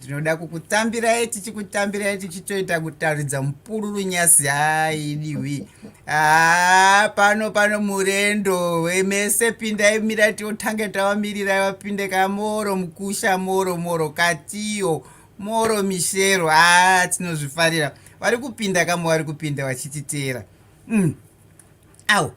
tinoda kukutambirai tichikutambirai tichitoita kutaridza mupururu nyasi haidiwi haa pano pano murendo wemese pindai mira tiotange tavamirirai vapinde ka moro mukusha moro moro katiyo moro mishero haa tinozvifarira vari kupinda kamwe vari kupinda vachititeera mm. au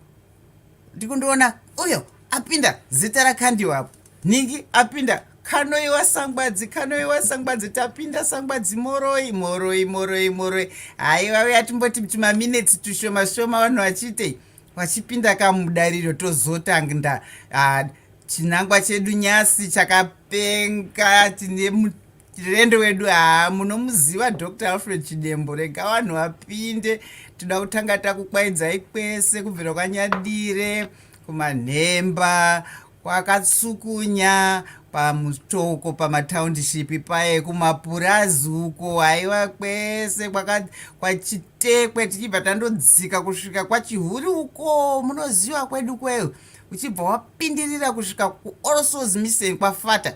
ndikundiona uyo apinda zita rakandiwa apo nhingi apinda kanoiwa sangwadzi kanoiwa sangwadzi tapinda sangwadzi moroi moroi moroi moroi haiwa uya timboti tumaminetsi tushoma shoma vanhu vachiitei vachipinda kamudariro tozotangda ah, chinangwa chedu nyasi chakapenga tine Chirendo wedu haa munomuziva Dr Alfred Chidembo rega vanhu vapinde toda kutanga takukwaidzai kwese kubvira kwanyadire kumanhemba kwakatsukunya pamutoko pamatownship paye kumapurazi uko haiwa kwese kwachitekwe tichibva tandodzika kusvika kwachihuri uko munoziva kwedu kweyo uchibva wapindirira kusvika kuallsouls misen kwafata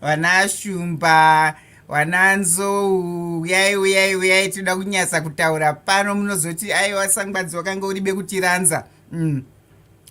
vana shumba vana nzou uyai uyai uyai tinoda kunyasa kutaura pano munozoti aiwa sangwadzi wakanga uribe kutiranza mm.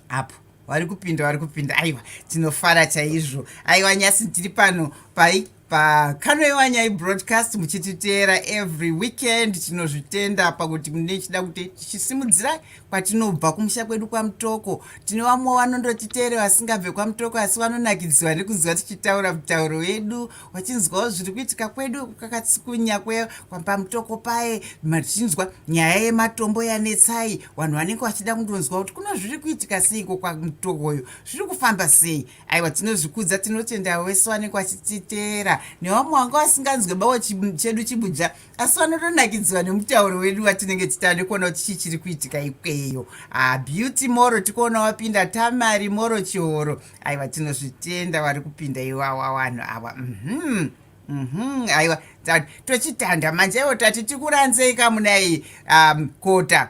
apo vari kupinda vari kupinda aiwa tinofara chaizvo aiwa nyasi tiri pano pai pakanoiwa nyai broadcast muchititeera every weekend tinozvitenda pakuti mune chida kuti tichisimudzirai kwatinobva kumusha kwedu kwamutoko tine vamwe vanondotiteere vasingabve kwamutoko asi vanonakidzwa nekunzwa tichitaura mutauro wedu vachinzwawo zviri kuitika kwedu kakatsikunya kwe kwapamutoko paye machinzwa nyaya yematombo yanetsai vanhu vanenge vachida kundonzwa kuti kuno zviri kuitika seiko kwamutokoyo zviri kufamba sei aiwa tinozvikudza tinotenda wese vanenge vachititeera nevamwe vanga vasinganzwe bawo chedu chibuja asi vanotonakidzwa nemutauro wedu watinenge titande kuona kuti chii chiri kuitika ikweyo ah, beauty moro tikuona wapinda tamari moro chihoro aiwa tinozvitenda vari kupinda iwawa vanhu awa mhm mhm aiwa tochitanda manje iwo tati tikuranzei kamunai um, kota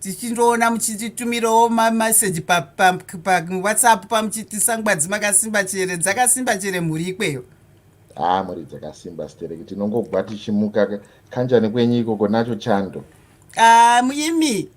tichindoona muchititumirawo mameseji pawhatsapp pamuchitisangwadzi makasimba chere dzakasimba chere mhuri ikweyo haa ah, mhuri dzakasimba stereki tinongobva tichimuka kanjani kwenyu ikoko nacho chando Ah, muimi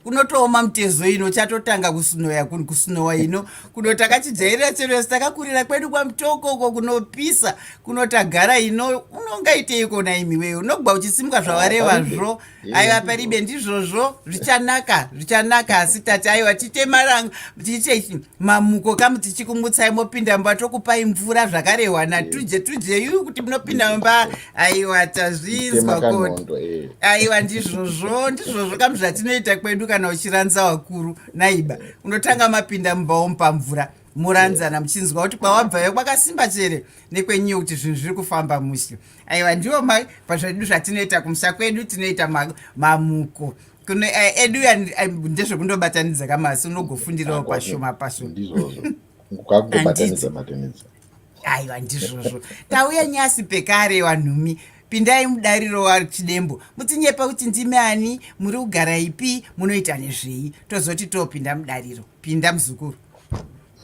unotooma mutezo ino chatotanga kusunoya kusunowa ino kuno takachijairira chero yese takakurira kwedu kwamutokoko kunopisa kunotagara ino unongaitei kona imi wee unogwa uchisimuka zvawarevazvo aiwa paribe ndizvozvo zvichanaka zvichanaka asi tati aiwa tiite maranga tiite mamuko kamu tichikumutsai mopinda mumba tokupai mvura zvakarehwa natuje tuje yu kuti munopinda mumba aiwa tazvinzwa koti eh. aiwa ndizvozvo ndizvozvo kamu zvatinoita kwedu kana uchiranza wakuru naiba unotanga mapinda mumba womupa mvura muranzana muchinzwa kuti kwawabvayo kwakasimba chere nekwenyuyo kuti zvinhu zviri kufamba mushe aiwa ndiwo mai pazvedu zvatinoita kumusha kwedu tinoita mamuko kuno eh, edu eh, ndezvekundobatanidza kamasi unogofundirawo pashoma pashoma aiwa ndizvozvo tauya nyasi pekare wanhumi Pindai mudariro waChidembo mutinyepa kuti ndimi ani, muri kugara ipi, munoita nezvei, tozoti topinda mudariro. Pinda muzukuru.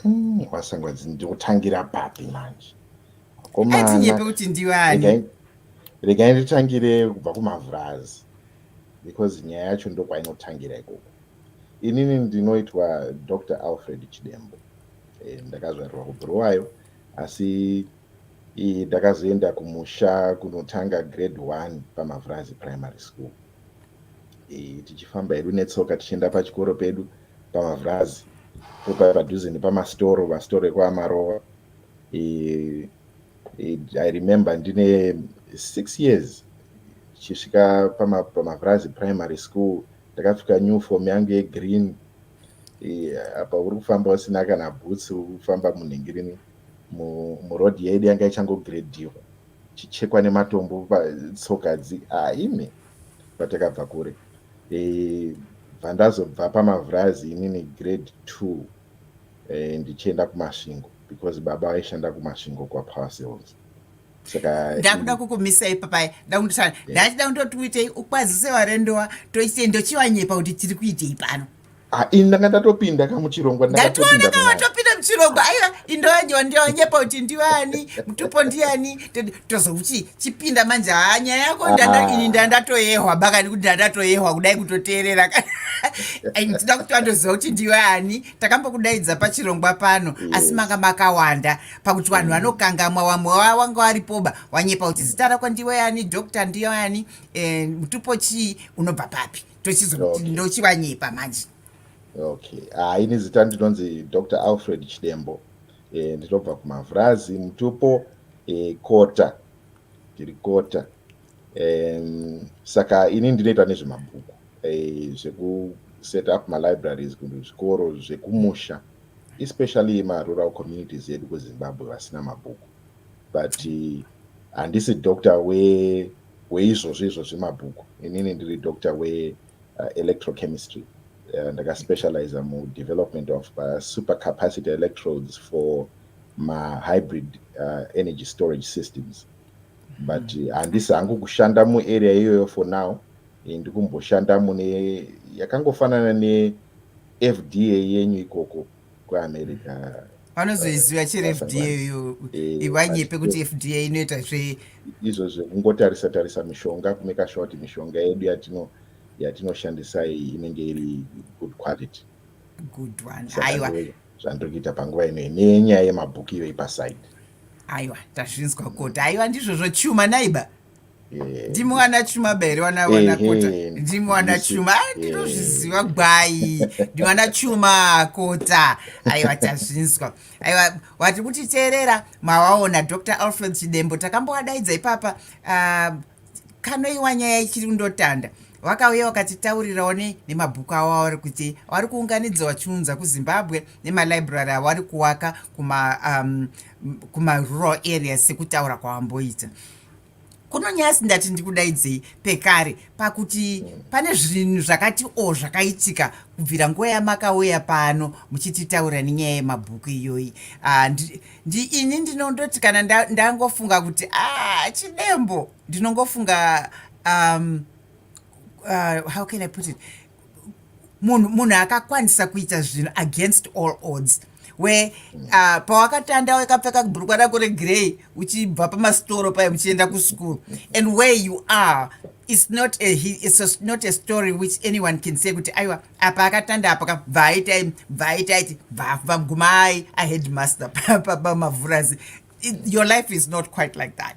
Hmm, Wasengwadzi ndikutangira papi manje? Atinyepe kuti ndiwe ani? Regai nditangire kubva kumavhurazi because nyaya yacho ndokwainotangira ikoko. Inini ndinoitwa Dr Alfred Chidembo. Eh, ndakazvarirwa kubhuruwayo asi Iyi ndakazoenda kumusha kunotanga grade one paMavhurazi Primary School. Iyi tichifamba hedu netsoka tichienda pachikoro pedu paMavhurazi popa padhuze nepamasitoro masitoro ekwamarova i remember ndine six years chisvika pamavhurazi primary school ndakapfeka new form yangu yegreen apa uri kufamba usina kana boots uri kufamba munhingirini muroad yedu yanga ichangogredhiwa chichekwa nematombo tsoka dzi ah, imi patakabva kure e, bva ndazobva pamavhurazi inini grade two e, ndichienda kumasvingo because baba vaishanda kumasvingo kwapower sales saka ndakuda kukumisai papai ndakunditana ndachida kundoti uitei ukwazise varendowa toite ndochivanyepa kuti tiri kuitei pano Ah, ini ndanga ndatopinda ka muchirongwa ndatoona ka watopinda muchirongwa aiwa indoanyewa ndionyepa kuti ndiwani mutupo ndiani tozouti chipinda manje haa nyaya yako ah. ini ndandatoyehwa bakani kuti ndandatoyehwa kudai kutoteerera ndida kuti wandoziva kuti ndiwani takambokudaidza pachirongwa pano mm. asi manga makawanda pakuti vanhu mm. vanokangamwa wamwe wanga waripoba wanyepa kuti zita rako ndiwani doctor ndiwani eh, mutupo chii unobva papi ndochivanyepa manje okay ah, ini zita ndinonzi dr alfred chidembo e, ndinobva kumavhurazi mutupo e, kota ndiri kota e, saka ini ndinoita nezvemabhuku e, zvekuset up malibraries zvikoro zvekumusha especially marural communities edu kuzimbabwe vasina mabhuku but handisi doctor we weizvozvi izvozvi mabhuku inini ndiri doctor we uh, electrochemistry uh, ndakaspecializa mudevelopment of uh, super capacity electrodes for mahybrid uh, energy storage systems but hmm. handisi uh, hangu kushanda muarea iyoyo for now eh, ndikumboshanda mune yakangofanana nefda yenyu ikoko kuamerica vanozoiziva chero fda iyo eh, ivanyepe kuti fda inoita zve izvo zvekungotarisa tarisa mishonga kumeka sure kuti mishonga yedu yatino yatinoshandisa iyi inenge iri good quality good one aiwa zvandokuita panguva ino nenyaya yemabhuku iyo ipasaidi aiwa tazvinzwa koti aiwa ndizvozvo chuma naiba Eh, ndimwana chuma bere wana wana kota eh, ndimwana chuma eh, ndinozviziva gwai ndimwana chuma kota aiwa tazvinzwa aiwa wati kutiteerera mawaona dr alfred chidembo takambowadaidza ipapa ah, kanoiwa nyaya ichiri kundotanda vakauya vakatitaurirawo ne nemabhuku avo avari kuti vari kuunganidza vachiunza kuzimbabwe nemalibrary avari kuwaka kuma um, kumarural areas sekutaura kwavamboita kuno nyasi ndati ndikudaidzei pekare pakuti pane zvinhu zvakati o zvakaitika kubvira nguva yamakauya pano muchititaura nenyaya yemabhuku iyoyi ah, ini ndinondoti kana ndangofunga kuti a ah, chidembo ndinongofunga um, uh, how can i put it munhu munhu akakwanisa kuita zvinhu against all odds we uh, pawakatanda wakapfeka bhurukwa rako regrey uchibva pamasitoro paye muchienda kuschool and where you are it's not a, it's a, not a story which anyone can say kuti aiwa apa akatanda apa ka bvaaitai bvaaitai bvamgumai aheadmaster pabamavhurazi your life is not quite like that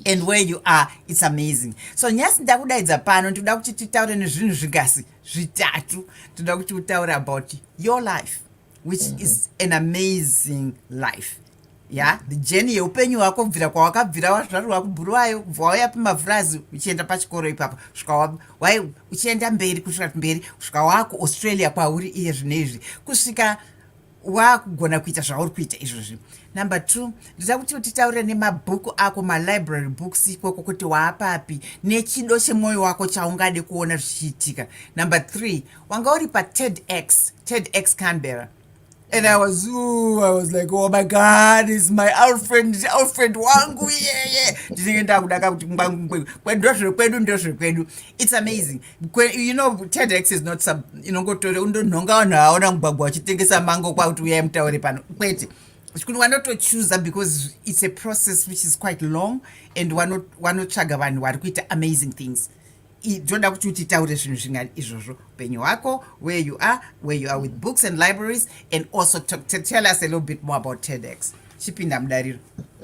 and where you are it's amazing so nyasi ndakudaidza pano ndikuda kuti titaure nezvinhu zvigasi zvitatu tinoda kuti utaure about your life which mm -hmm. is an amazing life ya yeah? the journey yeupenyu hwako kubvira kwawakabvira wazvarwa kubhuruwayo kubva wauya pamavhurazi uchienda pachikoro ipapo svika wai uchienda mberi kusvika mberi kusvika wako australia kwauri iye zvino izvi kusvika wakugona kuita zvauri kuita izvozvi number two ndida kuti utitaurire nemabhuku ako malibrary books ikoko kuti waapapi nechido chemwoyo wako chaungade kuona zvichiitika number three wanga uri pated x ted x canberra and i was ooh, i was like oh my god is my alfred alfred wangu yeye ndinenge ndakudaka kuti kwendozvekwedu ndozvekwedu it's amazing you know tedx is not some inongotore undonhonga vanhu vaona mugwagwa vachitengesa mango kwakuti uyai mutaure pano kwete kuti wanotochuza because it's a process which is quite long and wanotsvaga vanhu vari kuita amazing things toda kuti utitaure zvinhu zvinga izvozvo upenyu hwako where you are where you are with books and libraries and also to, to tell us a little bit more about tedx chipinda mudariro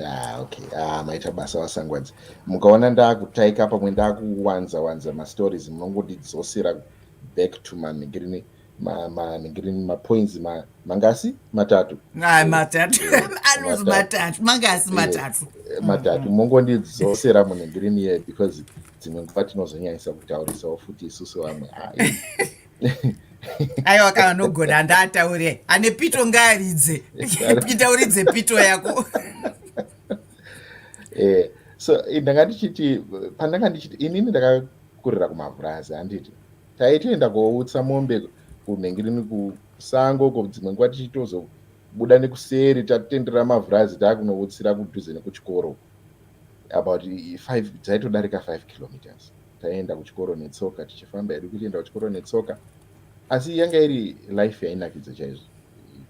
ah, okay ah, maita basa vasangwadzi mukaona ndakutaika pamwe ndakuwanza wanza mastories munongondidzosera back to mamigrini manigrini mapoints mangasi matatu ah, matatu eh, anonzi matatu mangasi eh, matatu eh, matatu mongondidzosera munigrini ye because dzimwe nguva tinozonyanyisa kutaurisawo futi isusu vamwe aiwa kana nogona andaataure ane pito ngaaridze pita uridze pito yako eh, so eh, ndanga ndichiti pandanga ndichiti inini ndakakurira kumavhurazi handiti taitoenda koutsa mombe kunhengirini kusango uko dzimwe nguva tichitozobuda nekuseri tatendera mavhurazi taakunoutsira kudhuze nekuchikoro about five dzaitodarika five kilometers taienda kuchikoro netsoka tichifamba hedu kuchienda kuchikoro netsoka asi yanga iri life yainakidza chaizvo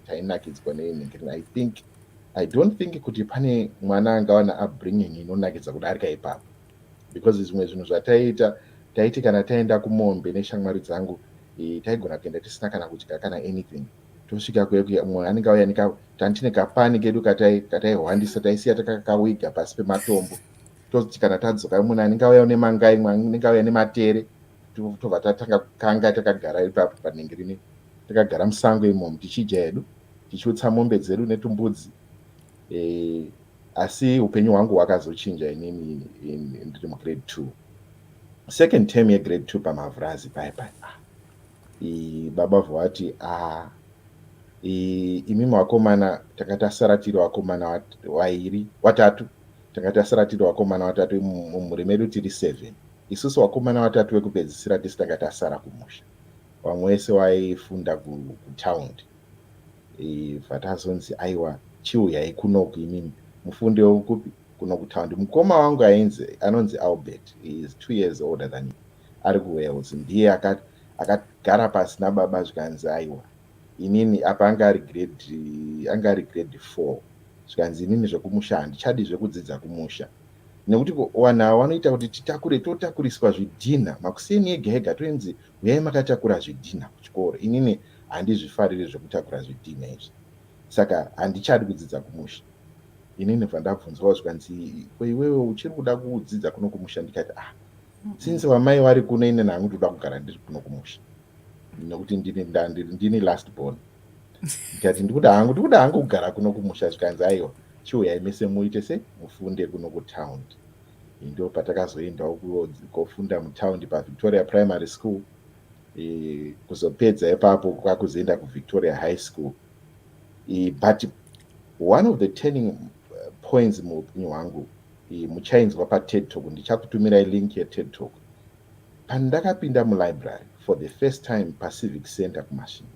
tainakidzwa neinhingirina i think i don't think kuti pane mwana angawana abringing inonakidza kudarika ipapo because zvimwe zvinhu zvataiita taiti kana taenda kumombe neshamwari dzangu e, taigona kuenda tisina kana kudya kana anything tosvika kuumwe anenge auya nika tantine kapani kedu kataihwandisa taisiya takakawiga pasi pematombo tozoti kana tadzoka imwe nani ngauya une mangai imwe anenge auya nematere tobva tatanga kukanga takagara ipapo panenge rine takagara musango imomo tichidya hedu tichiutsa mombe dzedu netumbudzi e, asi upenyu hwangu hwakazochinja inini ndiri mugrade two second term yegrade two pamavhurazi paye paye ah, baba vovati ah, imimi wakomana takati asara tiri wakomana wairi watatu Tanga tasara tiri vakomana vatatu mumhuri medu tiri seven. Isusu vakomana vatatu vekupedzisira tese tanga tasara kumusha. Vamwe vese vaifunda kutaundi. Ibva tazonzi aiwa chiuyai kunoku imimi. Mufundi wekupi? Kuno kutaundi. Mukoma wangu ainzi anonzi Albert. He is two years older than me. Ari kuWales. Ndiye akagara pasi nababa zvikanzi aiwa. inini apa anga ari grade anga ari grade four zvikanzi inini zvekumusha handichadi zvekudzidza kumusha nekuti vanhu ava vanoita kuti titakure totakuriswa zvidhinha makuseni ega ega toinzi huyai makatakura zvidhinha kuchikoro inini handizvifariri zvekutakura zvidhinha izvi saka handichadi kudzidza kumusha inini bva ndabvunzwawo zvikanzi ko iwewe uchiri kuda kudzidza kuno kumusha ndikati ah since vamai vari kuno ine nangu ndoda kugara ndiri kuno kumusha nekuti ndini last born ndikati ndikuda hangu ndikuda hangu kugara kuno kumusha zvikanzi aiwa chiuyai mese muite se mufunde kuno kutaundi ndo patakazoendawo kofunda mutaundi pavictoria primary school e, kuzopedza ipapo kwakuzoenda kuvictoria high school e, but one of the turning uh, points muupenyu hwangu muchainzwa pated talk ndichakutumirai link yeted talk pandakapinda mulibrary for the first time pacivic center kumashinga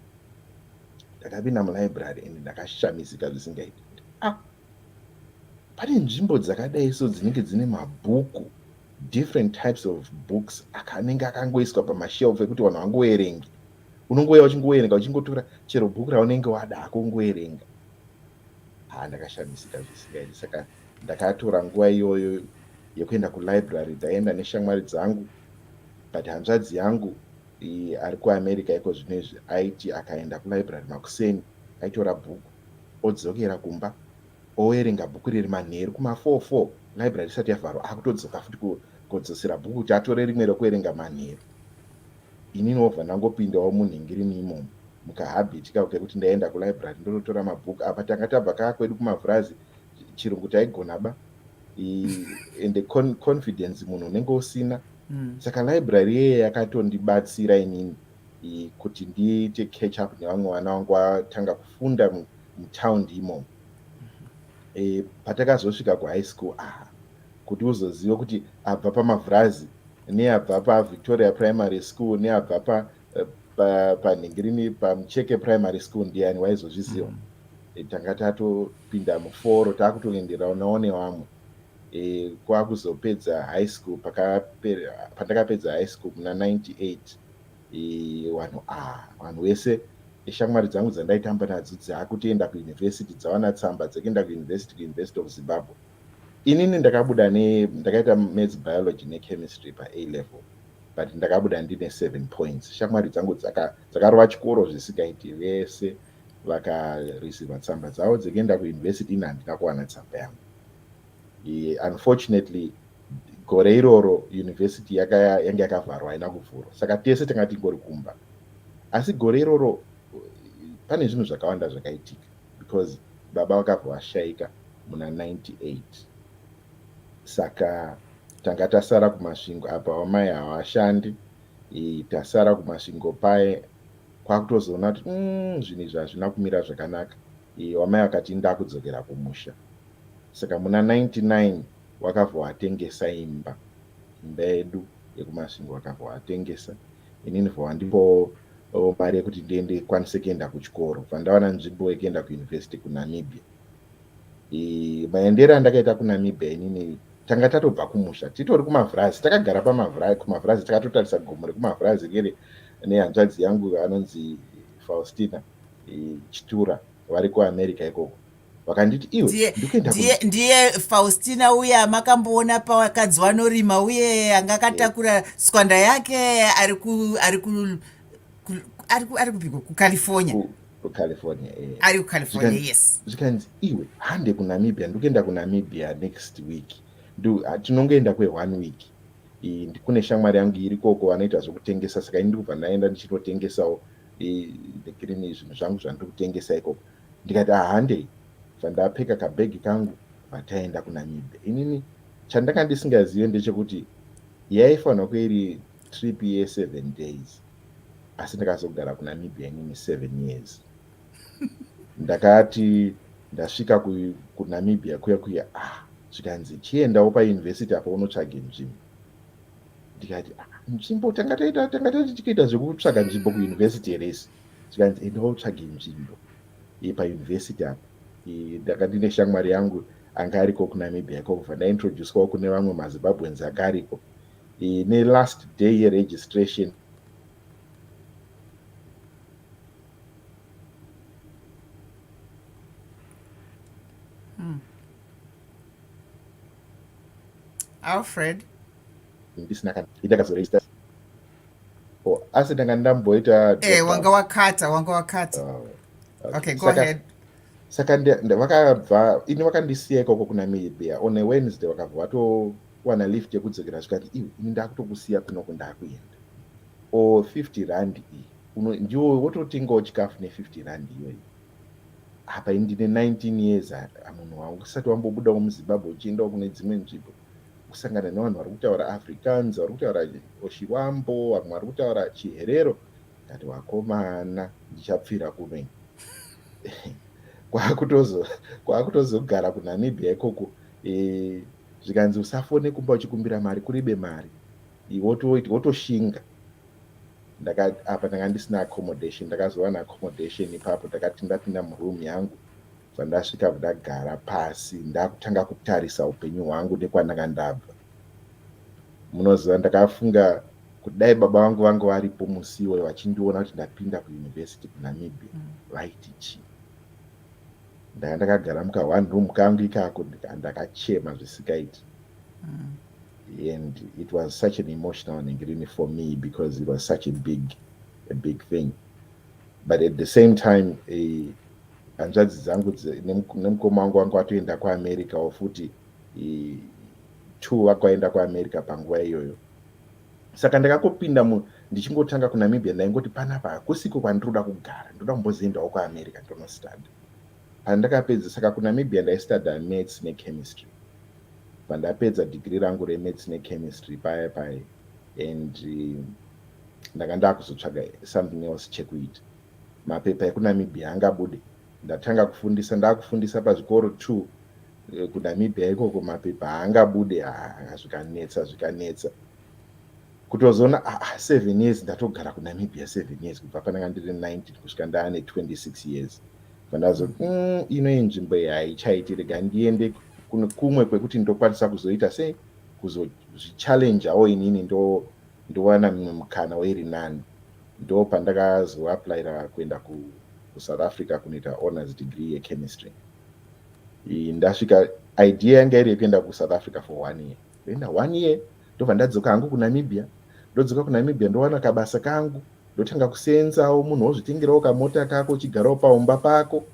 ndakapinda mulibrary and ndakashamisika zvisingaiti kuti ah pane nzvimbo dzakadai so dzinenge dzine mabhuku different types of books akanenge akangoiswa pamashelf ekuti vanhu vangoverengi unongouya uchingoverenga uchingotora chero bhuku raunenge wada hako ungoverenga haa ndakashamisika zvisingaiti saka Ndakatora nguva iyoyo yekuenda kulibrary ndaienda neshamwari dzangu but hanzvadzi yangu ari kuamerica iko zvino izvi aiti akaenda kulibrary makuseni aitora bhuku odzokera kumba owerenga bhuku riri manheru kuma4 4 library isati yavharwa akutodzoka futi kodzosera bhuku kuti atore rimwe rekuverenga manheru ini novha ndangopindawo munhingirini imomo mukahabiti kako kekuti ndaienda kulibrary ndonotora mabhuku apa tanga tabva kaa kwedu kumavhurazi chirungu taigona ba ende confidence munhu unenge usina mm. saka library yeye yakatondibatsira inini kuti ndiite catch up nevamwe vana vangu vatanga kufunda mutown imomo e, patakazosvika kuhigh school aha kuti uzoziva kuti abva pamavhurazi neabva pavictoria primary school neabva panhingirini pa, pa pamucheke primary school ndiani waizozviziva mm. e, tanga tatopinda muforo takutoenderao naone vamwe e, kwakuzopedza high school pandakapedza high school muna 98 e, vanhu ah, vanhu wese eshamwari dzangu dzandaitamba nadzo dzakutoenda kuuniversity dzawana tsamba dzekuenda kuuniversity kuuniversity of zimbabwe inini ndakabuda ne ndakaita maths biology nechemistry pa a level but ndakabuda ndine seven points shamwari dzangu dzakarova chikoro zvisingaiti vese vakareceiva tsamba dzavo dzekuenda kuuniversity ini handina kuwana tsamba yangu unfortunately gore iroro university yange yakavharwa haina kuvhurwa saka tese tanga tingori kumba asi gore iroro pane zvinhu zvakawanda zvakaitika because baba vakabva vashaika muna 98 Saka tanga tasara kumasvingo apa vamai havashandi tasara kumasvingo paye kwakutozoona kuti mm, zvinhu izvi hazvina kumira zvakanaka vamai vakati ndakudzokera kumusha saka muna 99 wakabva watengesa imba imba yedu yekumasvingo wakabva watengesa inini bva wandipo mari yekuti ndiende kwanise kuenda kuchikoro bva ndawana nzvimbo yekuenda kuuniversity kunamibia maendero andakaita kunamibia inini tanga tatobva kumusha titori kumavhurazi takagara kumavhurazi takatotarisa gomo rekumavhurazi riri nehanzvadzi yangu anonzi faustina chitura vari kuamerica ikoko vakanditi iwe ndiye faustina uye amakamboona pavakadzi wanorima uye anga akatakura tswanda yake ari kupiko kucalifornia kucalifornia eh. ari kucalifornia yes zvikanzi iwe hande kunamibia ndikuenda kunamibia next week ah, tinongoenda kweone week kune shamwari yangu iri koko vanoita zvokutengesa saka ini ndikubva ndaenda ndichinotengesawo nekirini zvinhu zvangu zvandiri kutengesa ikoko ndikati ahandei ah, zvandapfeka kabhegi kangu vataenda kunamibia inini chandakandi singazive ndechekuti yaifanira kuiri trip yeseven days asi ndakazogara kunamibia inini seven years ndakati ndasvika kunamibia kuya kuya ah zvikanzi chiendawo pauniversity apa unotsvage nzvimbo ndikati ah, nzvimbo tanga taita tanga taiti tikaita zvekutsvaga nzvimbo kuuniversity heresi zvikanzi endawo tsvage nzvimbo pauniversity apa ndanga ndine shamwari yangu anga ariko kunamibia ikokubva ndaintroducewawo kune vamwe mazimbabweans anga ariko eh, ne last day ye registration hmm. alfred ndisina kana ndakazoregister oh, asi ndanga ndamboita eh, wanga wakata wanga wakata oh, okay, okay go ahead saka vakabva ini vakandisiya ikoko kuna mibia on a wednesday vakabva vato kuwana lift yekudzokera zvikati iwe ini ndakutokusiya kunoko ndakuenda o 50 rand iyi uno ndiwo wototengawo chikafu ne 50 rand iyoyi apa ini ndine 19 years amunhu wangu usati wambobudawo muzimbabwe uchiendawo kune dzimwe nzvimbo kusangana nevanhu vari kutaura africans vari kutaura oshiwambo vamwe vari kutaura chiherero ndati wakomana ndichapfira kumene kwakutozogara kunamibia ikoko e, zvikanzi usafone kumba uchikumbira mari kuribe mari wotoshinga apa ndanga ndisina accommodation ndakazowana accommodation ipapo ndakati ndapinda muroom yangu zvandasvika ndagara pasi ndakutanga kutarisa upenyu hwangu nekwandanga ndabva munoziva ndakafunga kuti dai baba vangu vanga varipo musiwo vachindiona kuti ndapinda kuuniversity kunamibia mm. vaiti chii ndanga ndakagara muka one room kangu ikako ndakachema zvisikaiti mm. and it was such an emotional nhingirini for me because it was such a big a big thing but at the same time eh, hanzvadzi uh, dzangu nemukoma wangu wangu atoenda kuamerica or futi eh, two vakaenda kuamerica panguva iyoyo saka ndakakopinda mu ndichingotanga kunamibia ndaingoti panapa hakusiko kwandiroda kugara ndoda kumbozoendawo kuamerica ndonostada pandakapedza saka kunamibia ndaistada maths nechemistry pandapedza dhigiri rangu remaths nechemistry paya paya and um, ndanga ndakuzotsvaga something else chekuita mapepa ekunamibia angabude ndatanga kufundisa ndakufundisa pazvikoro two eh, kunamibia ikoko mapepa haangabude haa zvikanetsa zvikanetsa kutozoona ah, ah, seven years ndatogara kunamibia seven years kubva pandanga ndiri 19 kusvika ndaane 26 years pandazo mm, ino inzvimbo yaichaiti rega ndiende kumwe kwekuti ndokwanisa kuzoita sei kuzozvichallenjawo inini ndo ndowana mimwe mukana wairi nani ndo pandakazoaplaira kuenda ku kusouth africa kunoita honors degree yechemistry ndasvika idea yanga iri yekuenda kusouth africa for one year ndoenda one year ndobva ndadzoka hangu kunamibia ndodzoka kunamibia ndowana kabasa kangu ndotanga kuseenzawo munhu wozvitengerawo kamota kako uchigarawo paumba pako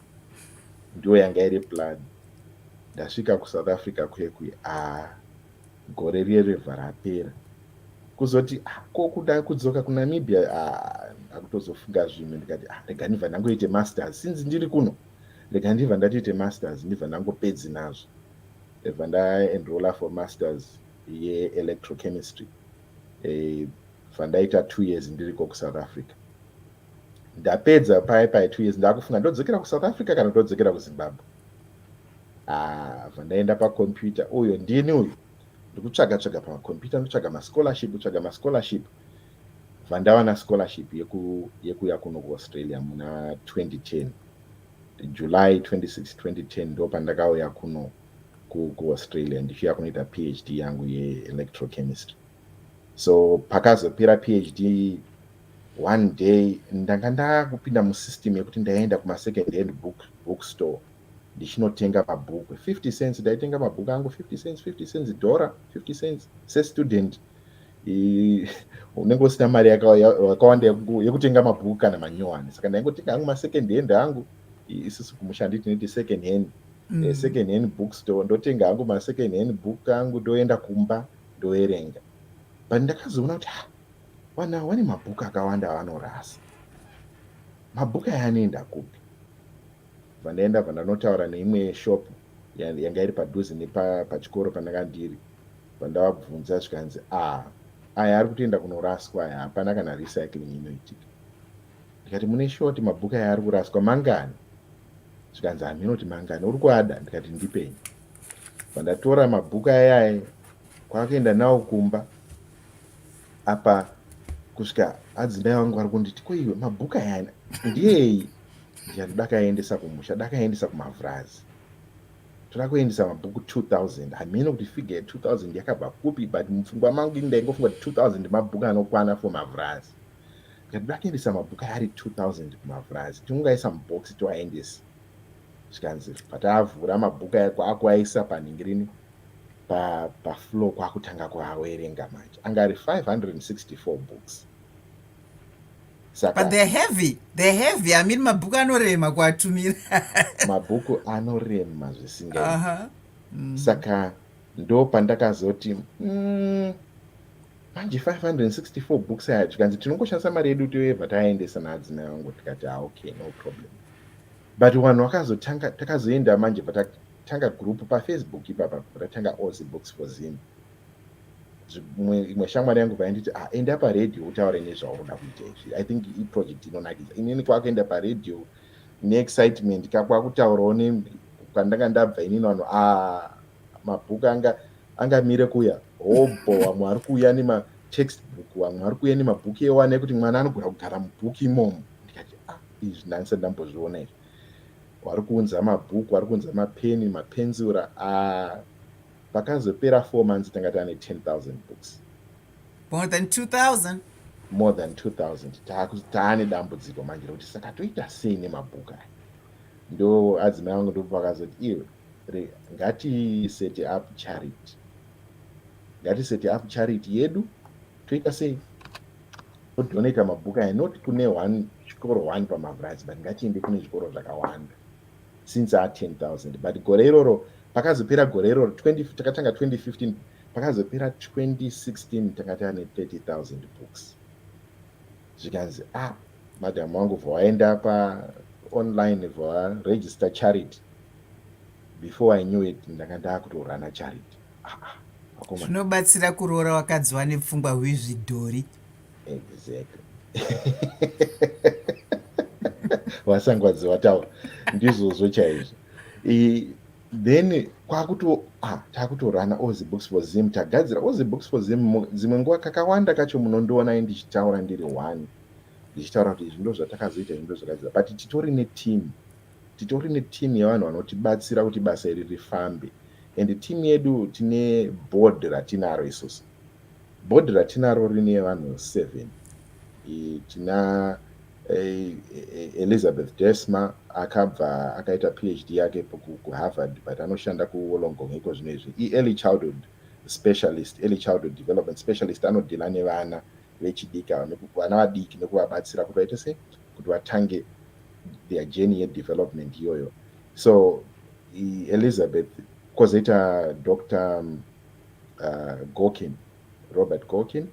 ndiyo yanga iri plan ndasvika kusouth africa kuye kuye a ah. Gore riye revha rapera kuzoti ah, ko kuda kudzoka kunamibia ah, ndakutozofunga ah, zvimwe ndikati ah, rega ndibva ndangoite masters sinzi ndiri kuno rega ndibva ndatoite masters ndibva ndangopedzi nazvo ndibva ndaenrolla for masters yeelectrochemistry eh, bva ndaita two years ndiriko kusouth africa ndapedza paye paye two years ndakufunga ndodzokera kusouth africa kana ndodzokera kuzimbabwe Ah, vandaenda pacomputer uyo ndini uyu ndikutsvaga tsvaga pacomputer ndotsvaga mascholarship tsvaga mascholarship vandava na scholarship yeku yekuya kuno kuaustralia muna 2010 july 26 2010 ndo pandakauya kuno kuaustralia ndichiuya kunoita phd yangu yeelectrochemistry so pakazopera phd one day ndanga ndakupinda musystem yekuti ndaienda kumasecond hand book bookstore ndichinotenga mabhuku 50 cents ndaitenga mabhuku angu 50 cents 50 cents dhora 50 cents sestudent unenge usina mari yakawanda yekutenga mabhuku kana manyowani saka ndaingotenga hangu masecond hand angu isisu kumusha nditi niti second hand mm. Eh, second hand book store ndotenga hangu masecond hand book angu ndoenda kumba ndoverenga but ndakazoona kuti ah, vana vane mabhuku akawanda avanorasa mabhuku aya anoenda kupi Vanoenda vandanotaura neimwe shop yanga iri padhuze nepachikoro pandanga ndiri vandavabvunza zvikanzi ah aya ari kutoenda kunoraswa aya hapana kana recycling inoitika ndikati mune shoti mabhuku aya ari kuraswa mangani zvikanzi hameno kuti mangani uri kuada ndikati ndipenyu vandatora mabhuku ayaye kwakuenda nawo kumba apa kusvika hadzimai vangu vari kunditi koiwe mabhuku ayana ndiyei Ndiyani dakaendesa kumusha dakaendesa kumavhurazi toda kuendesa mabhuku 2000 hameno kuti figure ye 2000 yakabva kupi but mupfungwa mangu ini ndaingofunga kuti 2000 mabhuku anokwana for mavhurazi ndikati toda kuendesa mabhuku ari 2000 kumavhurazi tinongaisa mubox toaendesa zvikanzi pataavhura mabhuku aya kwaakuaisa panhingi rini pafloor kwakutanga kuawerenga manje anga ari 564 books saka but they're heavy they're heavy i mean mabhuku anorema kuatumira mabhuku anorema zvisinga uh -huh. mm. saka ndo pandakazoti mm, manje 564 books aya tikanzi tinongoshandisa mari yedu toyeva taendesa naadzina yangu tikati ah, okay no problem but vanhu vakazotanga takazoenda manje patatanga group pafacebook ipapa patatanga ozi books for zim imwe shamwari yangu painditi ah, enda paradio utaure nezvaunoda kuita izvi i think iproject inonakidza inini kwakuenda paradio neexcitement ka kwakutaurawo kwandanga ndabva inini vanhu a ah, mabhuku anga angamire kuya hobho vamwe ari kuuya nematextbook vamwe ari kuuya nemabhuku ewane ekuti mwana anogona kugara mubhuku imomo ndikati a ah, izvi ndanisa ndambozviona izvi wari kuunza mabhuku wari kuunza mapeni mapenzura a Pakazopera four months tanga tane 10,000 books. More than 2,000? More than 2,000. Taku- Taane dambudziko manje rokuti saka toita sei nemabhuku aya. Ndo adzimai vangu ndipo pakazoti iwe re- ngati set up charity. Ngati set up charity yedu toita sei? Todonata mabhuku aya not kune one chikoro one paMavurazi but ngatiende kune zvikoro zvakawanda. since a 10000 but gore iroro pakazopera gore iroro takatanga 2015 pakazopera 2016 tanga tane 30000 books zvikanzi ah madam wangu vhawaenda paonline vhawaregister charity before i knew it ndanga ndaakutorana charity ah, ah, zvinobatsira kuroora wakadzi wane pfungwa hwizvidhori exactly vasangwadzi vataura ndizvozvo chaizvo then kwakuto ah, takutorana ozi books for zim tagadzira ozi books for zim dzimwe nguva kakawanda kacho munondiona i ndichitaura ndiri one ndichitaura kuti izvi ndo zvatakazoita izvi ndo zvakadzira but titori neteam titori neteam yevanhu vanotibatsira kuti basa iri rifambe and team yedu tine board ratinaro isusu Board ratinaro rine vanhu seven. Tina Elizabeth Desma akabva akaita PhD yake kuHarvard but anoshanda kuWollongong iko zvino izvi. IEarly childhood specialist, early childhood development specialist anodhila nevana vechidika vana vadiki nekuvabatsira kuti vaite sei kuti vatange their journey yedevelopment iyoyo. So Elizabeth kozoita Dr. uh, gokin robert gokin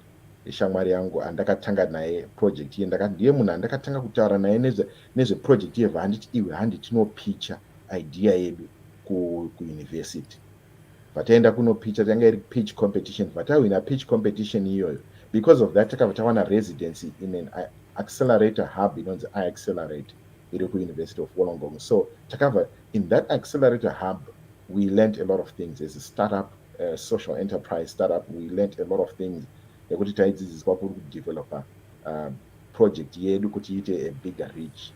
ishamwari yangu andakatanga naye project iye ndiye munhu andakatanga kutaura naye nezveproject nezve yeva handiti iwe handi tinopicha idea yedu kuuniversity ku vataenda kunopicha tanga iri pitch competition vatahwina pitch competition iyoyo because of that takabva tawana residency in an accelerator hub inonzi iaccelerate iri kuuniversity of wollongong so takabva In that accelerator hub, we learned a lot of things as a startup, uh, social enterprise startup, we learned a lot of things nekuti taidzidziswa kuri kudeveloper uh, project yedu kuti iite a bigger reach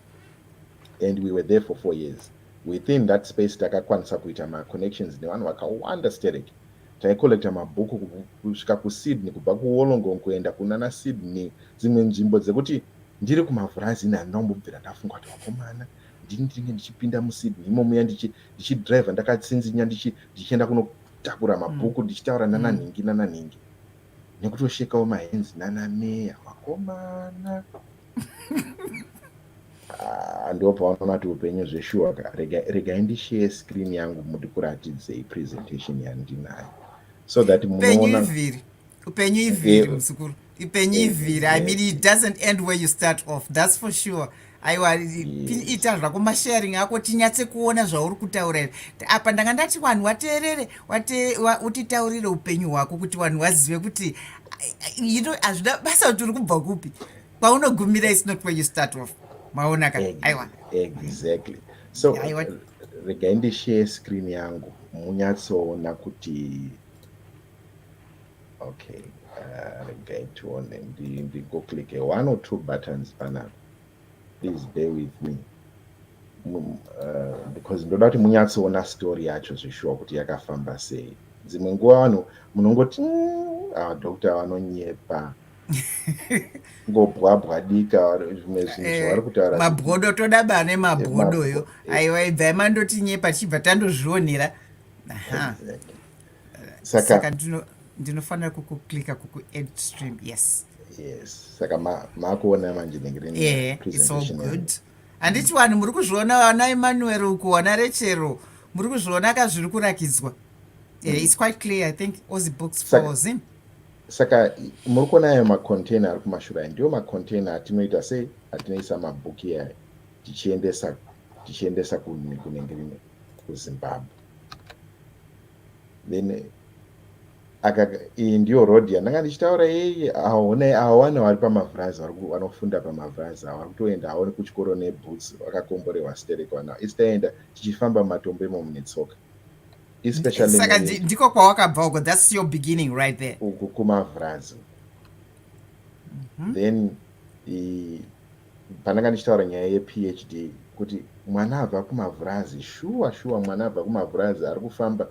and we were there for four years within that space takakwanisa kuita maconnections nevanhu vakawanda sterek taicollecta mabhuku kusvika kusydney kubva kuwolongong kuenda kunana sydney dzimwe nzvimbo dzekuti ndiri kumavhurazini handina kumbobvira ndafunga kuti vakomana ndini ndinenge ndichipinda musydney imomuya ndichidriver ndakatsinzinya ndichienda kunotakura mabhuku mm. ndichitaura nananhingi mm. nananhingi nekutoshekawo mahenzi nanameya vakomana ah, ndo pavanoona ti upenyu zveshuwa ka regai ndishare screen yangu mutikuratidzei presentation yandinayo so that munoona upenyu iviri eh, muzukuru ipenyu ivhiri i mean it doesn't end where you start off that's for sure aiwa ita zvako masharing ako tinyatse kuona zvauri kutaura izvi apa ndanga ndati vanhu wateerere utitaurire upenyu hwako kuti vanhu wazive kuti ino hazvida basa kuti uri kubva kupi kwaunogumira is not where you start off maona ka aiwa exactly so regai ndishare screen yangu munyatsoona kuti okay uh, regai tione ndigoclicke ndi one or two buttons panapa please bear with me mm, uh, because ndoda kuti munyatsoona story yacho zvishuwa kuti yakafamba sei dzimwe nguva vanhu munongoti mm, ah, doctor vanonyepa ngobwabwa dika zvimwe zvinhu eh, zvavari kutaura mabwodo toda ba nemabwodoyo eh, aiwa ibvai mandotinyepa tichibva tandozvionera saka ndinofanira kukuclicka kukuadd stream yes yes saka makuona manje nenge rine good handiti vanhu muri kuzviona vana emmanuel uku wana rechero muri kuzviona ka zviri kurakidzwa eh, mm. its quite clear i think ozi books for zim saka muri kuona ayo macontainer ari kumashura ayo ndiwo macontainer atinoita sei atinoisa mabhuki ayo tichiendesa tichiendesa kunenge rine kuzimbabwe then aka iyi ndiyo road yandanga ndichitaura yeye aone awane vari pamavhurazi vanofunda pamavhurazi ava vari kutoenda aone kuchikoro neboots vakakomborewa sterek vana isi taenda tichifamba matombo imomo netsoka especiallysaka ndiko kwawakabva uko thats your beginning right there uku kumavhurazi mhm. then pandanga ndichitaura nyaya yephd kuti mwana abva kumavhurazi shuwa shuwa mwana abva kumavhurazi ari kufamba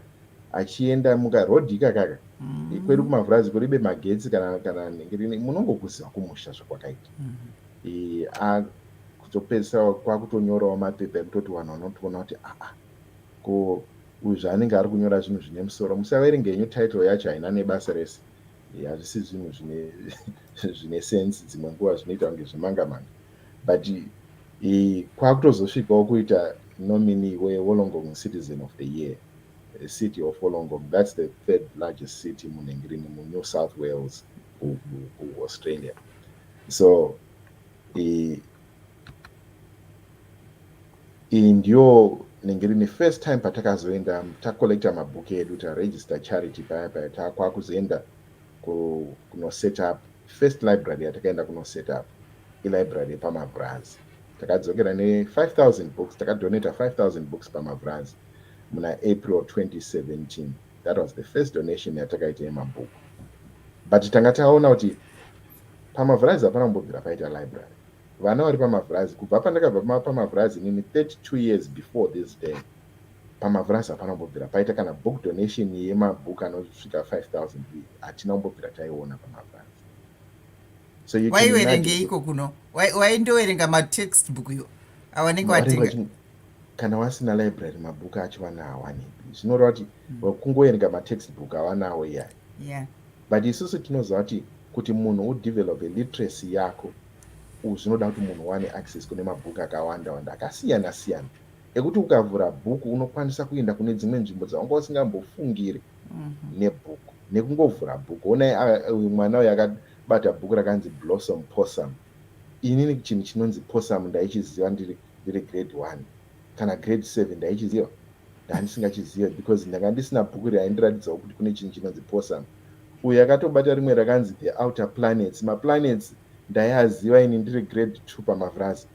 achienda muka road ikakaka mm. kwedu kumavhurazi kuribe magetsi kana kana nhengerini munongokuziva kumusha zvakwakaita mm. kuzopedzisa kwakutonyorawo mapepa ekutoti vanhu vanotoona kuti aa ah, ah, ko uyu zvaanenge ari kunyora zvinhu zvine musoro musaverenge henyu title yacho haina nebasa rese hazvisi zvinhu zvine zvine sense dzimwe nguva zvinoita kunge zvemanga manga but kwakutozosvikawo kuita nominee wewolongong citizen of the year a city of wolongong that's the third largest city munhengirini munew south wales kuaustralia so Iyi ndiyo inenge iri nefirst time patakazoenda tacollecta mabook edu taregister charity paya paya takwakuzoenda kunoset up first library yatakaenda kunoset up ilibrary yepamavrazi takadzokera ne5000 books takadonata 5000 books pamavrazi muna april 2017 that was the first donation yatakaita yemabhuku but tanga taona kuti pamavrazi hapana kumbobvira paita library Vana vari pamavhurazi kubva pandakabva pamavhurazi inini 32 years before this day. Pamavhurazi hapana kumbobvira paita kana book donation yemabook anosvika 5000 uye hatina kumbobvira taiona pamavhurazi. So you can imagine. Iko kuno. Waindoverenga matextbook yo. Awanenge watenga. Kana wasina library mabhuku acho vana hawani. Zvinoreva kuti hmm. kungoverenga matextbook hawanawo iyayi. Yeah. But isusu tinoziva kuti kuti munhu udevelop literacy yako Umm zvinoda kuti munhu uwane access kune mabook akawanda wanda akasiyana siyana ekuti ukavhura book unokwanisa kuenda kune dzimwe nzvimbo dzawanga usingambofungiri nebook nekungovhura book honai a- uyu mwana uyu akabata book rakanzi blossom possum inini chinhu chinonzi possum ndaichiziva ndiri ndiri grade one kana grade seven ndaichiziva ndandisingachizive because ndanga ndisina bhuku raindiratidzawo kuti kune chinhu chinonzi posam uyo yakatobata rimwe rakanzi the outer planets maplanets ndaiaziva ini ndiri grade two pamavrazi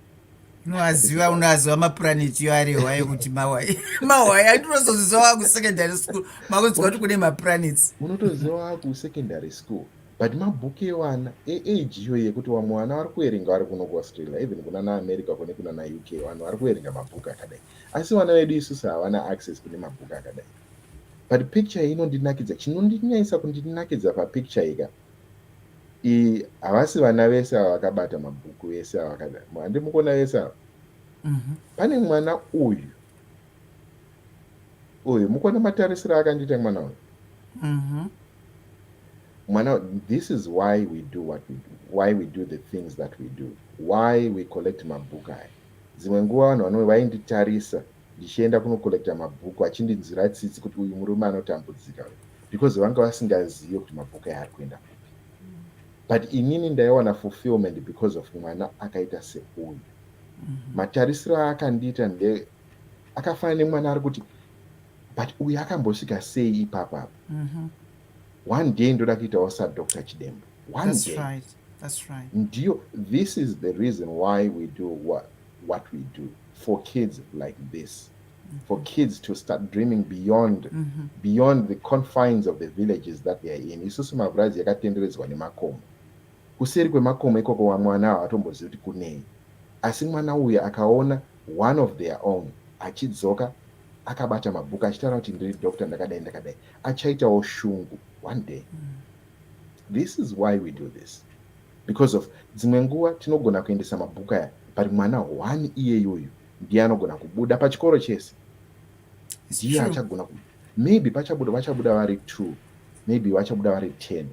unoaziva unoaziva maplaneti yo ari hwaye kuti mawai mawai andinozoziva wakusecondary school makuziva kuti kune maplanets unotoziva wakusecondary school But mabook ewana eage iyo yekuti wamwe wana wari kuerenga wari kuno kuAustralia even kuna naAmerica kune kuna naUK vanhu wari kuerenga mabook akadai asi vana vedu isusu havana access kune mabook akadai but picture iyi inondinakidza chinondinyaisa kundinakidza papicture ika i havasi vana vese ava vakabata mabhuku vese avakadai handi mukuona vese ava mhm. pane mwana uyu uyu mukona matarisiro akandiita mwana uyu mhm. mwana this is why we do what we do why we do the things that we do why we collect mabhuku aya dzimwe nguva vanhu vano vainditarisa ndichienda kunocollecta mabhuku achindinzwira tsitsi kuti uyu murume anotambudzika because vanga vasingazive kuti mabhuku aya ari kuenda kupi but inini ndaiwana fulfillment because of mwana akaita seuyu mhm. matarisiro aakandiita nde akafanana nemwana ari kuti but uyu akambosvika sei ipapo apo mhm. one day ndoda kuitawo sadoctor chidembo one day right. That's right. Ndiyo, this is the reason why we do what, what we do for kids like this. Mm-hmm. For kids to start dreaming beyond mm-hmm. beyond the confines of the villages that they are in. Isusu mavurazi yakatenderedzwa nemakomo. Kuseri kwemakomo ikoko vamwana havatombozivi kuti kunei asi mwana uyu akaona one of their own achidzoka akabata mabhuku achitaura kuti ndiri doctor ndakadai ndakadai achaitawo shungu one day. This is why we do this because of dzimwe nguva tinogona kuendesa mabhuku aya but mwana one iyeyoyu ndiye anogona kubuda pachikoro chese ndiye achagona maybe pachabuda vachabuda vari two maybe vachabuda vari ten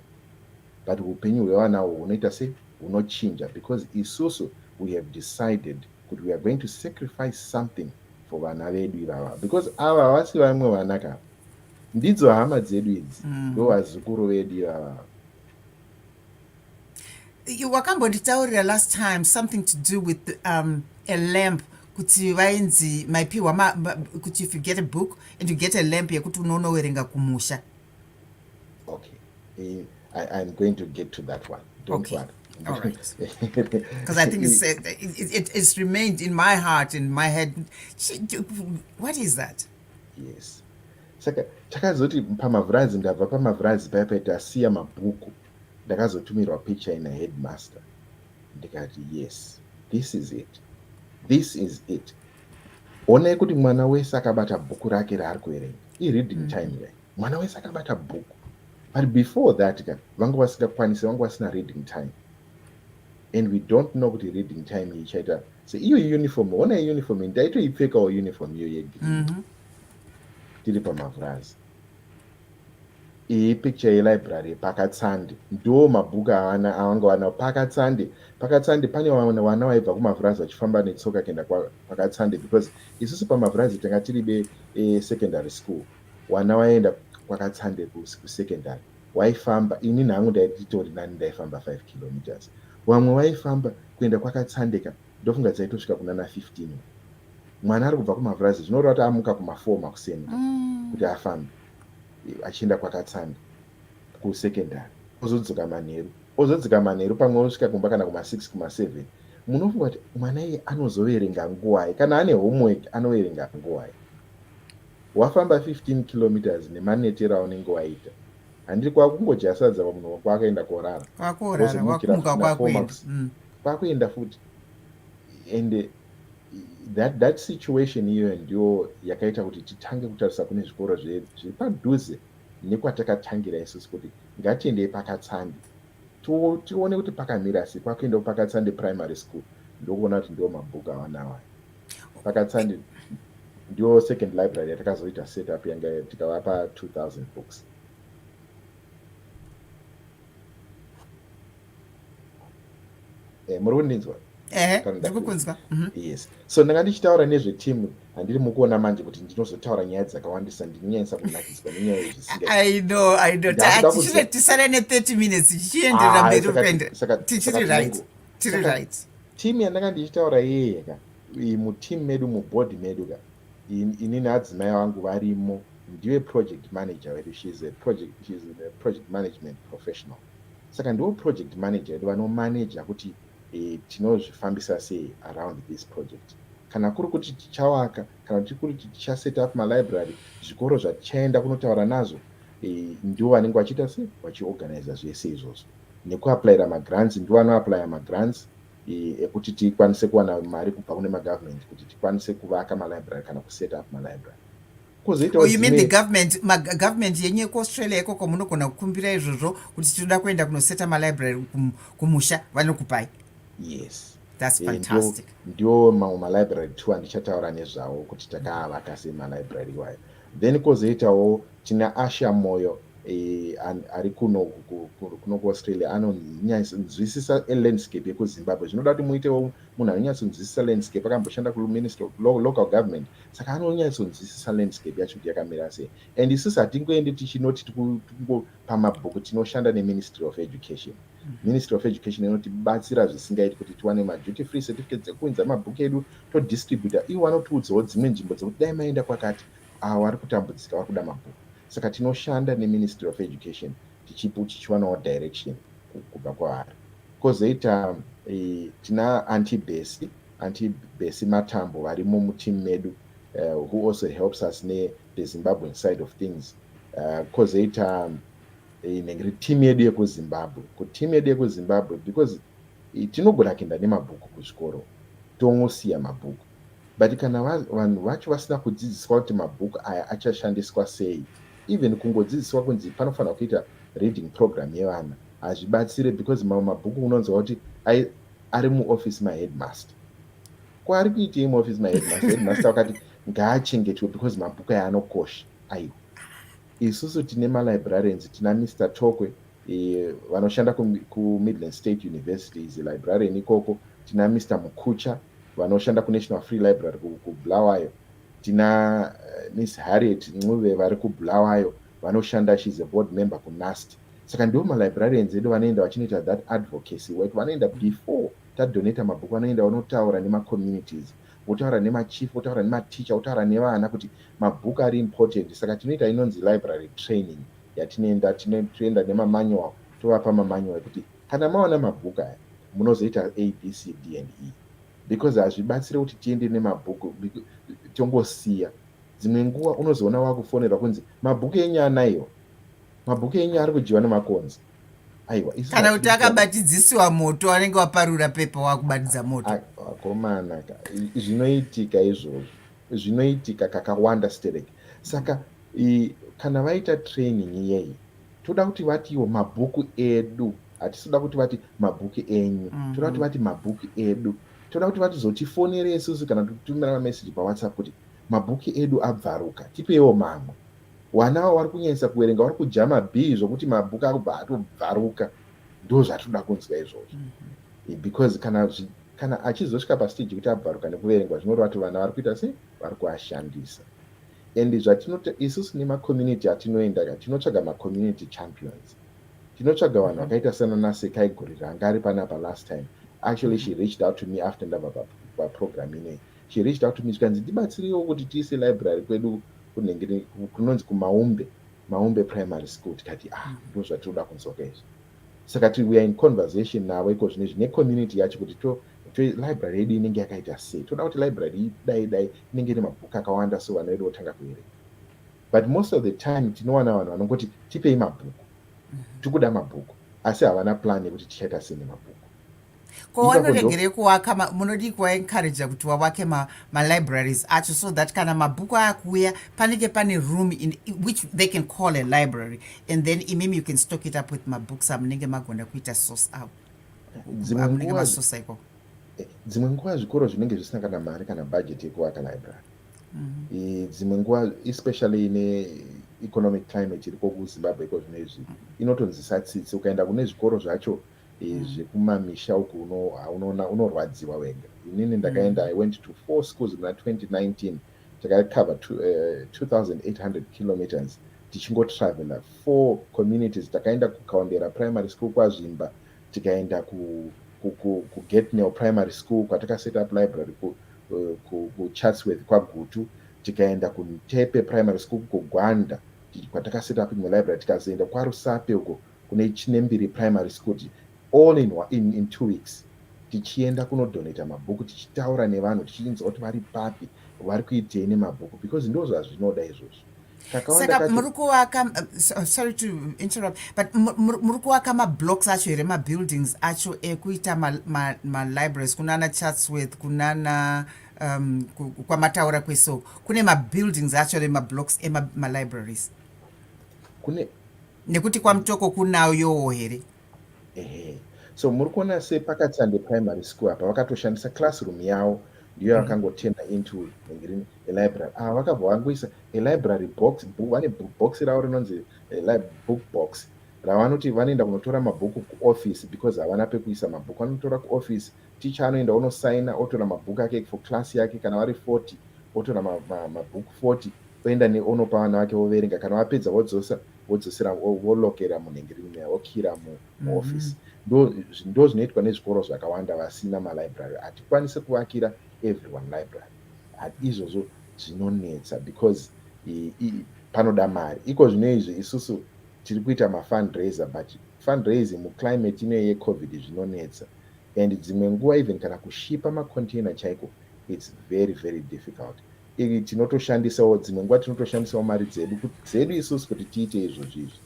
but hupenyu hwevana uhu hunoita se hunochinja because isusu we have decided kuti we are going to sacrifice something for vana vedu ivava because ava havasi vamwe vana ka ndidzo hama dzedu idzi mm. ndo vazukuru vedu ivava wakambonditaurira last time something to do with um, a lamp kuti vainzi maipiwa kuti if you get a book and you get a lamp yekuti unoonowerenga kumusha okay eh, I, i'm going to get to that one don't okay. worry all right because i think it's, uh, it, it, it's remained in my heart in my head what is that yes saka takazoti pamavhurazi ndabva pamavhurazi paya paiti asiya mabhuku ndakazotumirwa picture ina headmaster ndikati yes this is it this is it Honai kuti mwana wese akabata bhuku rake raari kuverenga ireading mm. time rai mwana wese akabata bhuku but before that ka vanga vasingakwanisi vanga vasina reading time and we don't know kuti reading time ichaita se iyo uniform hona uniform ndaitoipfekawo uniform iyo yegre mm -hmm. tiri pamavhurazi Iyi picture yelibrary paKatsande ndiwo mabhuku avana avanga vanawo paKatsande. PaKatsande pane vana vaibva kuMavurazi vachifamba netsoka kuenda kwaKatsande because isusu paMavurazi tanga tiri be eh, secondary school. Vana vaienda kwaKatsande kusecondary waifamba. Ini nhangu ndaititori nani ndaifamba 5 kilometers. Vamwe vaifamba kuenda kwaKatsande ka Ndofunga dzaitosvika kunana 15 uko. Mwana ari kubva kumavhurazi zvinoreva kuti amuka kuma 4 makuseni mm. kuti afambe achienda kwakatsanda kusekendari ozodzoka manheru ozodzika manheru pamwe osvika kumba kana kuma 6 kuma 7 munofunga kuti mwana iye anozoverenga nguwai kana ane homework anoverenga nguwai wafamba 15 kilometers nemanetero aunenge waita handiri kwakungojasadza pamunhu wako akaenda korara wakorara wakumukakwakuenda mm. kwakuenda futi and that, that situation iyoyo ndiyo yakaita kuti titange kutarisa kune zvikoro zviri padhuze nekwatakatangira isusu kuti ngatiendei pakatsandi tione kuti pakamira sei kwakuenda kupakatsandi primary school ndokuona kuti ndiwo mabhuku awanawa pakatsandi ndiyo second library yatakazoita set up yanga tikavapa 2000 books eh, muri kundinzwa ndikukunzwa mhm. yes so ndanga ndichitaura nezvetimu handiri mukuona manje kuti ndinozotaura nyaya dzakawandisa ndinonyanyisa kunakiswa nenyaya yezvisingatisare ne30 minutes tichienderera ah, mberi upende tichiri right tiri right timu yandanga ndichitaura yeye ka mutimu medu mubhodhi medu ka ini neadzimai vangu varimo ndive project manager wedu she's a project, she's a project management professional Saka ndivo project manager vedu vanomanager kuti e, tinozvifambisa sei around this project. Kana kuri kuti tichawaka kana kuti kuri kuti tichaset up malibrary, zvikoro zvatichaenda kunotaura nazvo e, ndivo vanenge vachiita sei vachiorganiza zvese izvozvo. Nekuaplaira magrants ndivo vanoaplaya magrants e, ekuti tikwanise kuwana mari kubva kune magovernment kuti tikwanise kuvaka malibrary kana kuset up malibrary. Oh, you mean the government magovernment yenyu ekuaustralia ikoko munogona kukumbira izvozvo kuti tinoda kuenda kunoseta malibrary kumusha vanokupai yes thats eh, fantastic ndiwo mamwe malibrary two andichataura nezvawo kuti takaavaka sei malibrary iwayo then kozoitawo tina asha moyo eh, ari kuno kuno kuaustralia anonyatsonzwisisa elandscape yekuzimbabwe zvinoda kuti muitewo munhu anonyatsonzwisisa landscape akamboshanda kuministry of local government mm. saka anonyatsonzwisisa landscape yacho kuti yakamira sei and isusu hatingoende tichinoti tikungopa mabhuku tinoshanda neministry of education mm-hmm. ministry of education inotibatsira zvisingaiti kuti tiwane maduty free certificate dzekuunza mabhuku edu todistributa ivo vanotiudzawo dzimwe nzvimbo dzekuti dai maenda kwakati avo vari kutambudzika vari kuda mabhuku saka tinoshanda neministry of education tichipo tichiwanawo direction kubva kwavari kozoita eh, tina antibesi Aunty Bessie Matambo varimo muteam medu uh, who also helps us ne the Zimbabwean side of things uh, kozoita um, inenge ri team yedu yekuzimbabwe ku team yedu yekuzimbabwe because tinogona kuenda nemabhuku kuzvikoro tongosiya mabhuku but kana vanhu vacho vasina kudzidziswa kuti mabhuku aya achashandiswa sei even kungodzidziswa kunzi panofanira kuita reading program yevana hazvibatsire because mamwe mabhuku unonzwa kuti ari muoffice maheadmaster ko ari kuitei muoffice maheadmaster headmaster wakati ngaachengetwe because mabhuku aya anokosha aiwa isusu tine malibrarians tina mr tokwe e, vanoshanda kumidland state university is librarian ikoko tina mr mukucha vanoshanda kunational free library kubulawayo tina eh, miss harriet ncuve vari kubulawayo vanoshanda she's a board member kunast saka ndivo malibrarians edu vanoenda vachinoita that advocacy work vanoenda before tadonata mabhuku vanoenda vanotaura nemacommunities votaura nemachief votaura nematicha votaura nevana kuti mabhuku ari important saka tinoita inonzi library training yatinoenda tinoenda nemamanual tovapa mamanual ekuti kana maona mabhuku aya munozoita abcd and e because hazvibatsire kuti tiende nemabhuku tongosiya Dzimwe nguva unozoona wakufonerwa kunzi mabhuku enyu anaiwa, mabhuku enyu ari kudyiwa nemakonzi. Aiwa, isu kana kuti hatidi- akabatidzisiwa moto anenge waparura pepa wakubatidza moto Ai, vakomana ka i- zvinoitika izvozvo zvinoitika kakawanda stereki saka i, kana vaita training iyeyi toda kuti vatiwo mabhuku edu hatisi kuda kuti vati mabhuku enyu Mhm. toda kuti vati mabhuku edu toda kuti vatizotifonere isusu kana kutumira mameseji pawhatsapp kuti Mabhuki edu abvaruka tipeiwo mamwe. Wana awa wari kunyanyisa kuwerenga wari kudya mabhii zvokuti mabhuku akubva atobvaruka. Ndozvatinoda kunzwa izvozvo. Eh, because kana zvi, kana achizosvika pastage yekuti abvaruka nekuverengwa zvinoreva kuti vana vari kuita sei? Vari kuashandisa. And zvatinoita isusu nemacommunity atinoenda ka tinotsvaga macommunity champions. Tinotsvaga vanhu vakaita sana naSekai Gurira anga ari panapa last time. Actually she reached out to me after ndabva pa, pa program inei. chireach out to me chikanzi ndibatsireiwo kuti tiise library kwedu kunenge kunonzi kumaumbe maumbe primary school tikati ah mm-hmm. ndo zvatiri kuda kunzwaka izvi saka ti weare in conversation navo iko zvine zvine community yacho kuti to library yedu inenge yakaita sei toda kuti library dai dai inenge ine mabhuku akawanda so vana vedu votanga kuerenga but most of the time tinowana vanhu vanongoti tipei mabhuku mm-hmm. tikuda mabhuku asi havana plan yekuti tichaita sei nemabhuku ko wanoregerei kuvaka munodii kuvaencouraja kuti wavake malibraries ma acho so that kana mabhuku aya kuuya panenge pane room in, which they can call a library and then imimi you can stock it up with mabooks amunenge magona kuita source avo amunenge masosa ikoko eh, dzimwe nguva zvikoro zvinenge zvisina kana mari kana budget yekuvaka library mm -hmm. dzimwe nguva especially ine economic climate iriko kuzimbabwe iko zvino izvi inotonzisa tsitsi ukaenda kune zvikoro zvacho mm -hmm. zvekumamisha uku unoona unorwadziwa wega inini ndakaenda i went to four schools muna 2019 takacover 2800 eh, kilometers tichingotravela four communities takaenda kukaondera primary school kwazvimba tikaenda kugatnel primary school kwatakaset up library eh, kuchatsworth kwagutu tikaenda kuntepe primary school kugwanda kwatakaset up imwe library tikazoenda kwarusape uko kune Chinembiri Primary School all in, in, in two weeks tichienda kunodonata mabhuku tichitaura nevanhu tichinzwa kuti vari papi vari kuitei nemabhuku because ndo zvazvinoda izvozvo saka muri kuvaka uh, sorry to interrupt but muri kuvaka mablocks acho here mabuildings acho ekuita malibraries kunana chatsworth kunana um, kwamataura kwesoko kune mabuildings acho remablocks emalibraries kune nekuti kwamutoko kunayo yowo here ehe so muri kuona se pakatsande primary school apa vakatoshandisa classroom yawo ndiyo mm. yakangoturna mm. into ngirini elibrary ava ah, vakabva vangoisa elibrary box vane box ravo rinonzi eh, book box ravanoti vanoenda kunotora mabhuku kuoffice because havana pekuisa mabhuku anotora kuoffice ticha anoenda onosaina otora mabhuku ake for class yake kana vari 40 otora mabhuku 40 Voenda ne onopa vana vake voverenga kana vapedza vodzosa vodzosera volokera munhengereni meya vokira mu mm-hmm. office ndo ndo zvinoitwa nezvikoro zvakawanda vasina ma library hatikwanise kuvakira everyone library izvozvo zvinonetsa because i, i, panoda mari iko zvino izvi isusu tiri kuita ma fundraiser but fundraising mu climate ino ye covid zvinonetsa and dzimwe nguva even kana kushipa ma container chaiko it's very very difficult Iri tinotoshandisawo dzimwe nguva tinotoshandisawo mari dzedu dzedu isusu kuti tiite izvozvi izvi.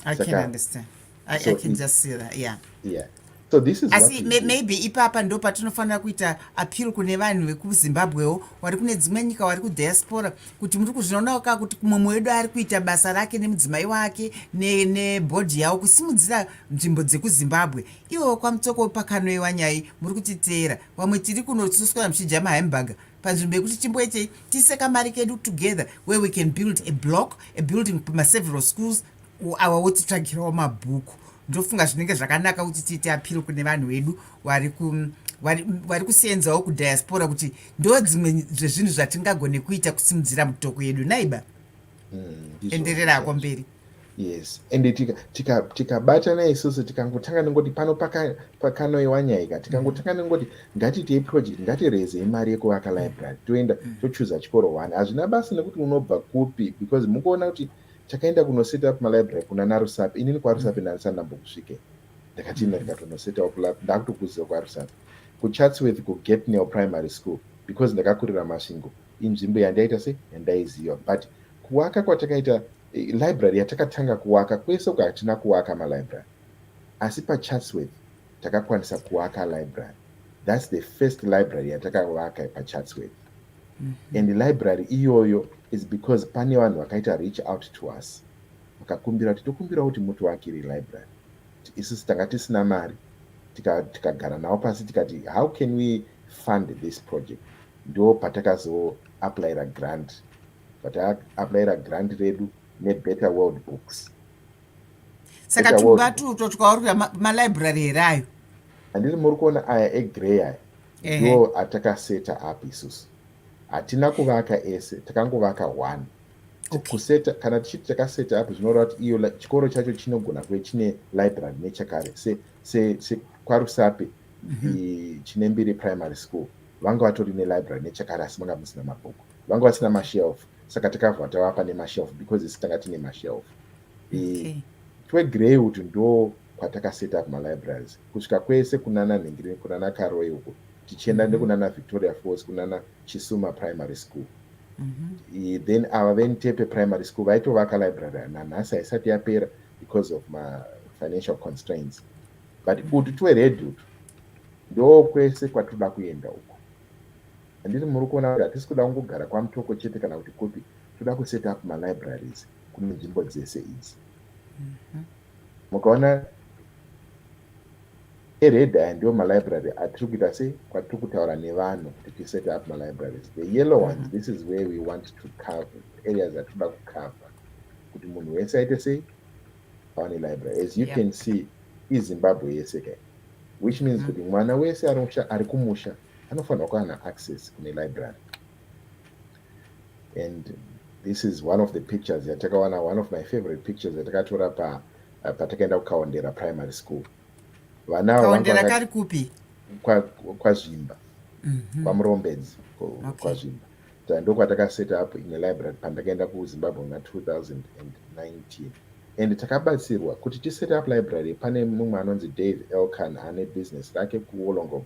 I can understand. I, so I can it, just see that. Yeah. Yeah. So this is asi may, maybe ipapa ndo patinofanira kuita appeal kune vanhu vekuzimbabwewo wari kune dzimwe nyika wari kudiaspora kuti muri kuzvinonawo kaa kuti mumwe wedu ari kuita basa rake nemudzimai wake nebhodhi ne yavo kusimudzira nzvimbo dzekuzimbabwe ivo kwamutsoko pakanoiwa nyai muri kutiteera vamwe tiri kunosuswa muchidya mahambhaga panzvimbo yekuti timboitei tiise kamari kedu together where we can build a block a building maseveral schools awa wotitsvagirawo mabhuku ndofunga zvinenge zvakanaka kuti tiite apiro kune vanhu vedu vari ku vari kuseenzawo kudiaspora kuti ndo dzimwe zvezvinhu zvatingagone kuita kusimudzira mutoko yedu naiba mm, enderera hako mberi yes and tikabatana tika, tika isusu tikangotanga nengoti pano pakanoiwa nyaika tikangotanga mm. nengoti ngatiitei project ngatirezei mari yekuvaka mm. library toenda mm. tochuza chikoro one hazvina basa nekuti unobva kupi because mukuona kuti takaenda kunoset up malibrary kuna narusapi inini kwarusapi ndanisanambokusvike ndakatienda ndikatonoset up ndakutokuziva kwarusapi kuchatsworth kugetnel primary school because ndakakurira masvingo inzvimbo yandaita se yandaiziva but kuwaka kwatakaita eh, library yatakatanga kuwaka kwese uko hatina kuwaka malibrary asi pachatsworth takakwanisa kuwaka library thats the first library yatakavaka pachatsworth mm -hmm. and library iyoyo is because pane vanhu vakaita reach out to us vakakumbira kuti tokumbira kuti mutivakire library isusu tanga tisina mari tikagara tika navo pasi tikati how can we fund this project ndo patakazoapplyira grant pataapplyira grant redu nebetter world books saka tumba tuto twauri kuda malibrary here ayo handiti muri kuona aya egrey aya ndo atakaseta up isusu hatina kuvaka ese takangovaka one okay. kuseta kana tichiti takaseta up zvinoreva kuti iyo chikoro chacho chinogona kuve chine library nechakare se, se, se kwarusape mhm. chinembiri primary school vanga vatori nelibrary nechakare asi manga musina mabhuku vanga vasina mashelf saka takavha tavapa nemashelf because isi tanga tine mashelf twegreywood ndo kwatakaset up malibraries kusvika kwese kunana nhingiri kunana karoi uko tichienda mhm. nekunana victoria falls kunana chisuma primary school mhm. then ava ventepe primary school vaitovaka library nanhasi haisati yapera because of mafinancial constraints but kuti twered utu ndokwese kwatinoda kuenda uko handiti muri kuona kuti hatisi kuda kungogara kwamutoko chete kana kuti kupi toda kuset up malibraries kune nzvimbo dzese idzi mhm. mukaona ered aya ndiwo malibrary atiri kuita se kwatiri kutaura nevanhu kuti tiset up malibraries the yellow ones mhm. this is where we want to cover areas atinoda kucover kuti munhu wese aite sei vane library as you yeah. can see izimbabwe yese kai which means mm. kuti mm. mwana wese ari kumusha anofanirwa kuva na access kune library and this is one of the pictures yatakawana one of my favorite pictures yatakatora pa uh, patakaenda kukaondera primary school vana kaondera kari kupi kwazvimba kwa mm-hmm. kwamurombedzi kwazvimba okay. Saka ndokwataka set up imwe library pandakaenda kuzimbabwe muna 2019 and takabatsirwa kuti tiset up library pane mumwe anonzi dave elkan ane business rake kuwolongom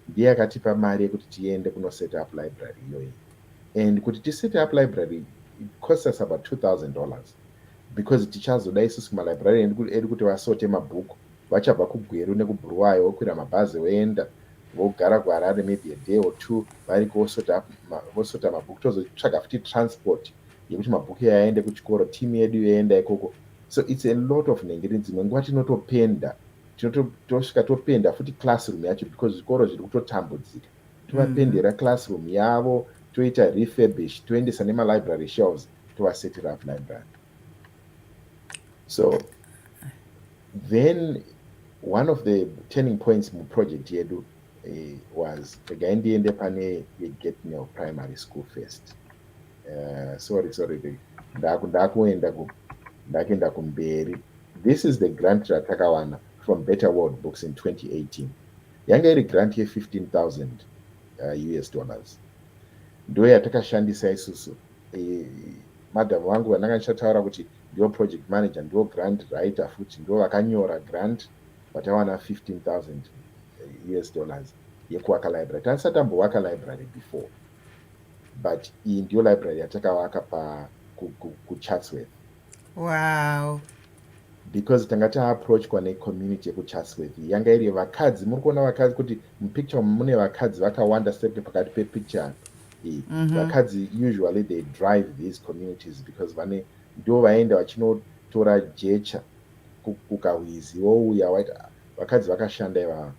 ndiye akatipa mari yekuti tiende kunoset up library iyoyi and kuti tiset up library it cost us about 2000 dollars because tichazoda isusu malibrarian edu kuti vasote mabhuku Vachabva kuGweru nekuBuruwayo vokwira mabhazi voenda vogara kuHarare maybe a day or two variko vosota up ma, vosota mabhuku tozotsvaga futi transport yekuti mabhuku iyayo aende kuchikoro team yedu yoenda ikoko so it's a lot of nhengerini dzimwe nguva tinotopenda tinotosvika topenda futi classroom yacho because zvikoro zviri kutotambudzika tovapendera mm-hmm. classroom yavo toita refurbish toendesa nemalibrary shelves tovasetira up library so then one of the turning points muproject yedu eh, was regai ndiende pane yegetnel primary school first uh, sorry sorry ndakuenda ndakuenda kumberi this is the grant ratakawana from better world books in 2018 yanga iri grant ye15000 uh, eh, us dollars ndo yatakashandisa isusu madam vangu vandanga ndichataura kuti ndivo project manager ndivo grant writer futi ndivo vakanyora grant vatawana 15000 eh, us dollars yekuwaka library taisa tambowaka library before but iyi ndiyo library yatakawaka kuchatsworth wow because tanga taapproachwa necommunity yekuchasworthy yanga iri vakadzi muri kuona vakadzi kuti mupicture mune vakadzi vakawanda sepe pakati pepicture apa iyi mhm. vakadzi usually they drive these communities because vane ndo vaenda vachinotora jecha kukahwizi wouya waiti ah, vakadzi vakashanda ivava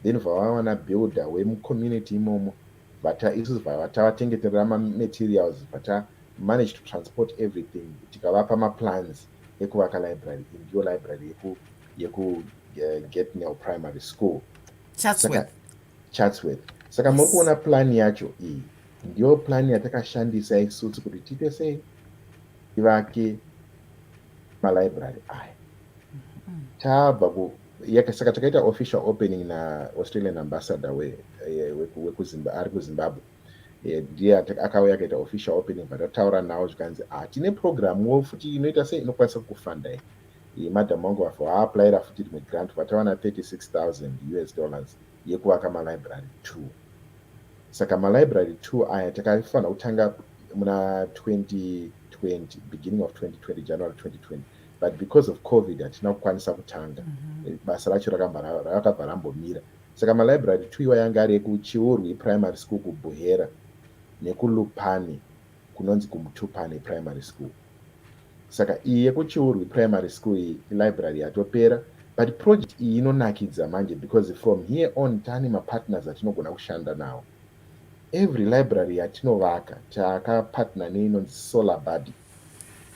then vavawana builder wemucommunity imomo vata isu vatavatengete rama materials vata manage to transport everything tikavapa maplans ekuvaka library iyi ndiyo library yeku yeku uh, getnel primary school chatsworth chatsworth saka muri kuona plan yacho iyi ndiyo plan yatakashandisa isusu kuti tiite sei tivake malibrary aya mm-hmm. tabva ku saka takaita official opening naaustralian ambassador wekuzimba ari kuzimbabwe we ndiye akauya akaita official opening but ataura nawo zvikanzi ah tine program wo futi inoita sei inokwanisa kukufanda iyi iyi madam wangu vafa waaplaira futi rimwe grant vatawana 36000 us dollars yekuvaka malibrary two saka malibrary two aya takafanira kutanga muna 2020 beginning of 2020 january 2020 but because of covid hatina kukwanisa kutanga mm -hmm. basa racho rakabva rambomira Saka malibrary Twiwa yange ari eku Chiurwi Primary School ku Buhera neku Lupane kunonzi ku Mutupane Primary School. Saka iyi yeku Chiurwi Primary School iyi ilibrary yatopera but project iyi inonakidza manje because from here on tane mapartners atinogona kushanda nawo. Every library yatinovaka taka partner neinonzi Solar Buddy.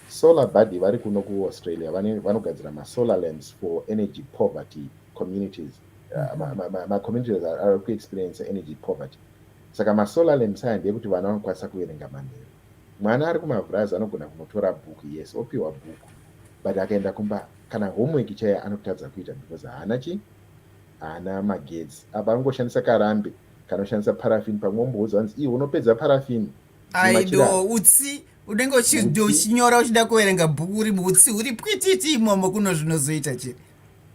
Solar Buddy vari kuno ku Australia vanogadzira masolar lamps for energy poverty communities. ma communities are ku experience energy poverty saka ma solar lamps aya ndeyekuti vana vanokwanisa kuverenga manheru mwana ari kumavhurazi anogona kunotora bhuku yes opiwa bhuku but akaenda kumba kana homework chaiye anotadza kuita because haana chi haana magetsi apa angoshandisa karambe kanoshandisa parafini pamwe omboudza anzi iwe unopedza parafini aido utsi unenge uchinyora uchida kuverenga bhuku uri muutsi uri pwititi imomo kuno zvinozoita chii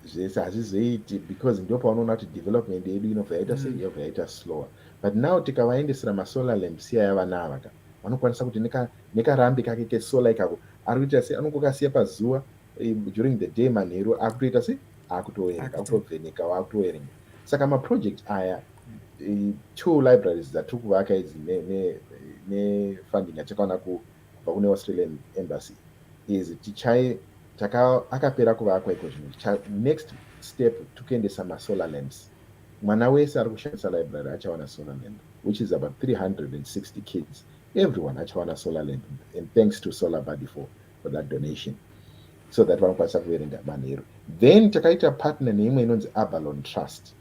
zvese hazvizoiti because ndo paunoona kuti development yedu inobva yaita sei mm. yobva yaita slower but now tikavaendesera masolar lamps iya yavana ava ka vanokwanisa kuti nekarambi kake kesolar ikako ari kuita sei anongokasiya pazuva eh, during the day manheru akutoita sei akutoerenga akutovheneka wakutoerenga saka maproject aya eh, two libraries dzatiri kuvaka idzi nefunding yatakaona ku Kubva kune Australian embassy is tichaye taka akapera kuvakwa iko zvino ticha next step tukuendesa ma solar lamps mwana wese ari kushandisa library achawana solar lamp which is about 360 kids everyone achawana solar lamp and thanks to solar body for, for that donation so that vanokwanisa kuverenga manheru then takaita partner neimwe inonzi abalon trust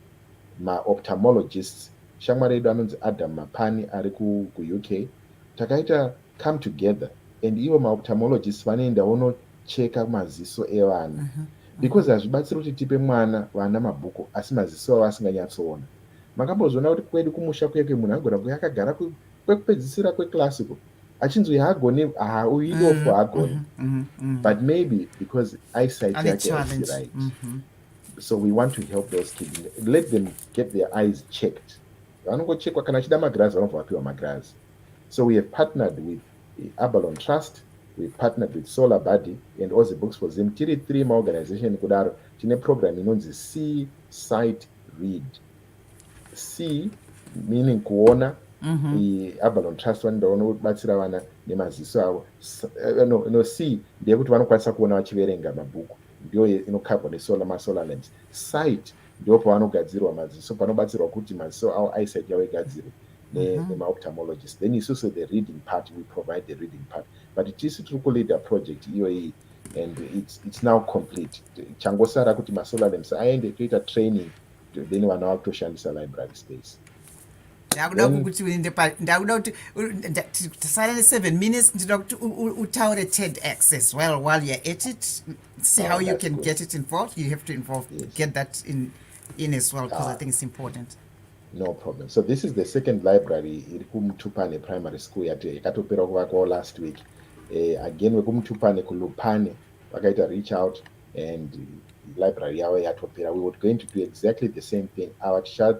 maoptomologists shamwari yedu anonzi adam mapani ari kuuk ku Takaita come together and ivo maophthalmologists vanoenda vonocheka maziso evana uh-huh. because hazvibatsiri kuti tipe mwana vana mabhuku asi maziso avo asinganyatsoona makambozviona kuti kwedu kumusha kuye kuye munhu agona kuya akagara kwekupedzisira kweclassical achinzwi haagoni hauidofo mm-hmm. haagoni mm-hmm. Mm-hmm. but maybe because eyesight yake asi right so we want to help those kids let them get their eyes checked vanongochekwa kana achida magirazi vanobva vapiwa magirazi so we have partnered with the abalon trust we have partnered with solar body and ozy books for zim tiri three maorganization kudaro tine program inonzi c site read c meaning kuona mm-hmm. iabalon trust vanoenda vanobatsira vana nemaziso avo eh, no, no c ndeyekuti vanokwanisa kuona vachiverenga mabhuku ndiyo inokabwa nesolar masolar lamps site ndipo pavanogadzirwa maziso panobatsirwa kuti maziso awo eyesight yavo igadzirwe mhm. nemaophthalmologist then isusu the reading part we provide the reading part but tisu tiri kuleader project iyoyi and it's, it's now complete changosara kuti masolar lamps aende toita training then vana vakutoshandisa library space ndakuda kuti uende pa ndakuda kuti tisare ne seven minutes ndinoda kuti utaure ted x as well while youare at it see how you can get it involved you have to involve get that in in as well because i think it's important no problem so this is the second library iri kumutupane primary school yati yakatopera kuvakwawo last week uh, again wekumutupane kulupane vakaita reach out and library yavo yatopera we would going to do exactly the same thing ava tichati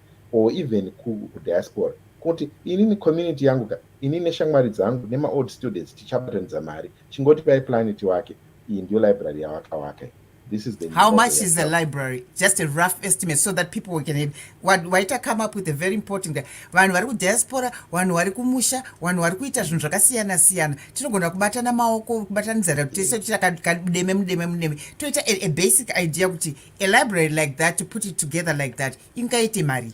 or even ku diaspora kuti inini community yangu ka inini neshamwari dzangu nemaold students tichabatanidza mari chingoti pai plani tiwake iyi ndiyo library yawakawaka iyi this is the how much is the library just a rough estimate so that people can have what why to come up with a very important vanhu vari kudiaspora vanhu vari kumusha vanhu vari kuita zvinhu zvakasiyana siyana tinogona kubatana maoko kubatanidzana kuti tese tichakademe mudeme mudeme toita a basic idea kuti a library like that to put it together like that ingaite mari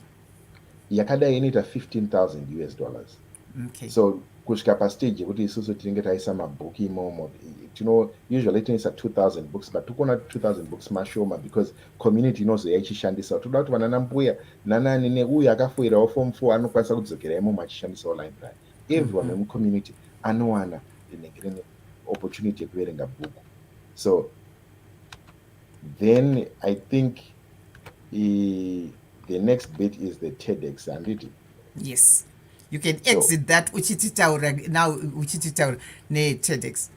yakadai inoita 15000 us dollars okay. so kusvika pastage yekuti isusu tinenge taisa mabhuku imomo tino usually tinoisa 2000 books but tikuona 2000 books mashoma because community inozoya ichishandisa toda kuti vanana mbuya nanani neuyo akafoirawo form four anokwanisa kudzokera imomo achishandisawo library everyone wemucommunity mm -hmm. anowana rinenge rine opportunity yekuverenga bhuku so then i think i, the next bit is the tedex handiti yes you can exit so, that uchititaura now uchititaura netedex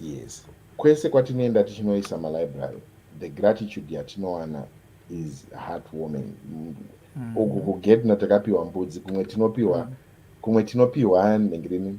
yes kwese kwatinoenda tichinoisa malibrary the gratitude yatinowana is heart warming mm. uku kugedno takapiwa mbudzi kumwe tinopiwa mm. kumwe tinopiwa nhengirini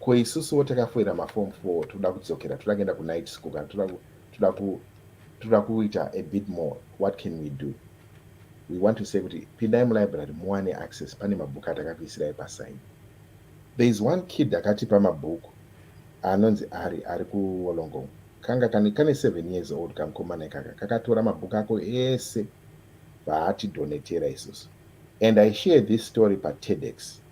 ko isusuwo takafoira mafom four toda kudzokera toda kuenda kunight school kana toda kuita a bit more what can we do we want to say kuti pindai mulibrary muwane access pane mabhuku atakakuisirai pasaini there is one kid akatipa mabhuku anonzi ari ari kuwolongong kanga kane, kane seven years old kamukomana ikaka kakatora mabhuku ako ese vaatidonetera isusu and i share this story patedex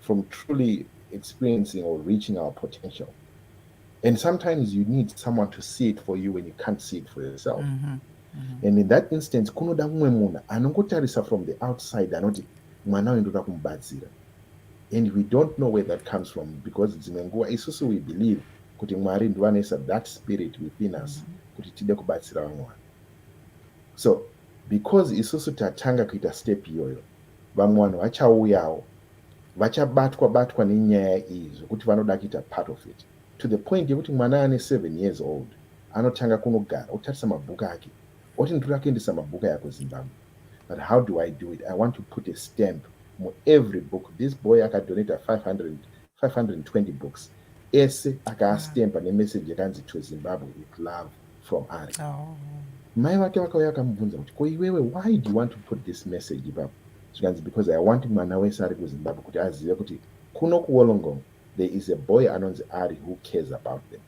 from truly experiencing or reaching our potential. And sometimes you need someone to see it for you when you can't see it for yourself. Mm -hmm. Mm -hmm. And in that instance, kunoda umwe munhu anongotarisa from the outside anoti mwana uyu ndoda kumubatsira. And we don't know where that comes from because dzimwe nguva isusu we believe kuti Mwari ndivo anoisa that spirit within us mm -hmm. kuti tide kubatsira vamwe vanhu. So because isusu tatanga kuita step iyoyo Vamwe vanhu vachauyawo vachabatwa batwa nenyaya iyi zvekuti vanoda kuita part of it to the point yekuti mwana ane seven years old anotanga kunogara otarisa mabhuku ake oti nditoda kuendesa mabhuku aya kuzimbabwe but how do i do it i want to put a stamp muevery book this boy akadonata 500 520 books ese akaastempa ah. nemeseji yakanzi to zimbabwe with love from ari oh. mai vake vakauya vakamubvunza kuti ko iwewe why do you want to put this message ipapo zvikanzi because i want mwana wese ari kuzimbabwe kuti azive kuti kuno kuwolongong there is a boy anonzi ari who cares about them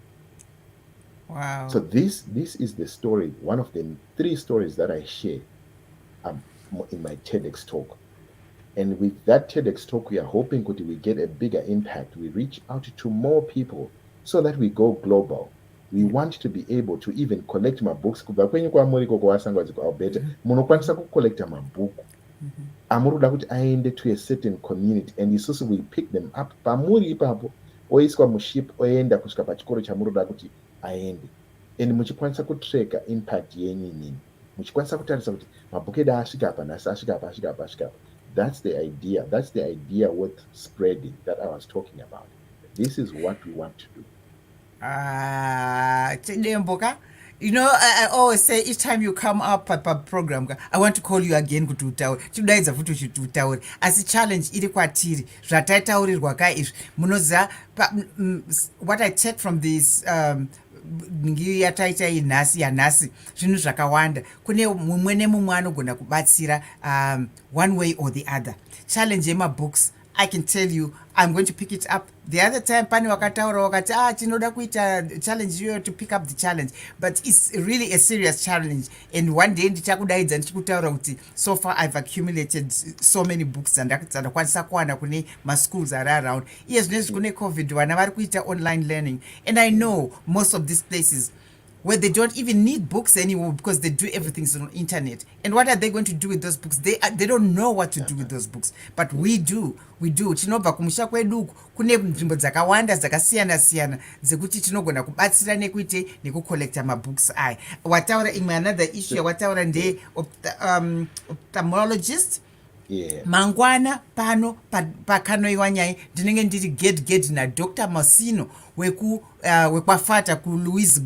wow. so this, this is the story one of the three stories that i share um, in my tedx talk And with that TEDx talk, we are hoping kuti we get a bigger impact. We reach out to more people so that we go global. We want to be able to even collect mabooks kubva kwenyu kwamuri koko wasangwadziko Alberta. Mm-hmm. Munokwanisa kucollecta mabhuku mm-hmm. amuri kuda kuti aende to a certain community and isusu we pick them up pamuri ipapo oiswa muship oenda kusvika pachikoro chamuri kuda kuti aende and muchikwanisa kutracka impact yenyu inini. muchikwanisa kutarisa kuti mabhuku edu asvika apa nhasi asvika apa asvika apa asvika apa that's the idea that's the idea worth spreading that i was talking about this is what we want to do ah, chidembo ka you know I, i always say each time you come up paprogram ka i want to call you again kuti utaure chikudaidza futi uchiti utaure asi challenge iri kwatiri zvataitaurirwa ka izvi munoziva what i take from this um, yataita iyi nhasi yanhasi zvinhu zvakawanda kune mumwe nemumwe anogona kubatsira um, one way or the other challenge yemabooks i can tell you i'm going to pick it up the other time pane wakataura wakati ah tinoda kuita challenge iyoyo to pick up the challenge but its really a serious challenge and one day ndichakudaidza ndichikutaura kuti so far i've accumulated so many books dzandakwanisa kuwana kune maschools ari around iye zvinezvi kune covid vana vari kuita online learning and i know most of these places where they don't even need books anymore because they do everything on internet. And what are they going to do with those books? They, are, they don't know what to do with those books. But we do, we do. Tinobva kumusha kwedu uku kune nzvimbo dzakawanda dzakasiyana siyana dzekuti tinogona kubatsira nekuite nekucollecta mabooks aya. Wataura imwe another issue yawataura ndeye um, ophthalmologist yeah. mangwana pano pakanoiwa nyaya ndinenge ndiri ged ged nadr masino weku uh, wekwafata kulouis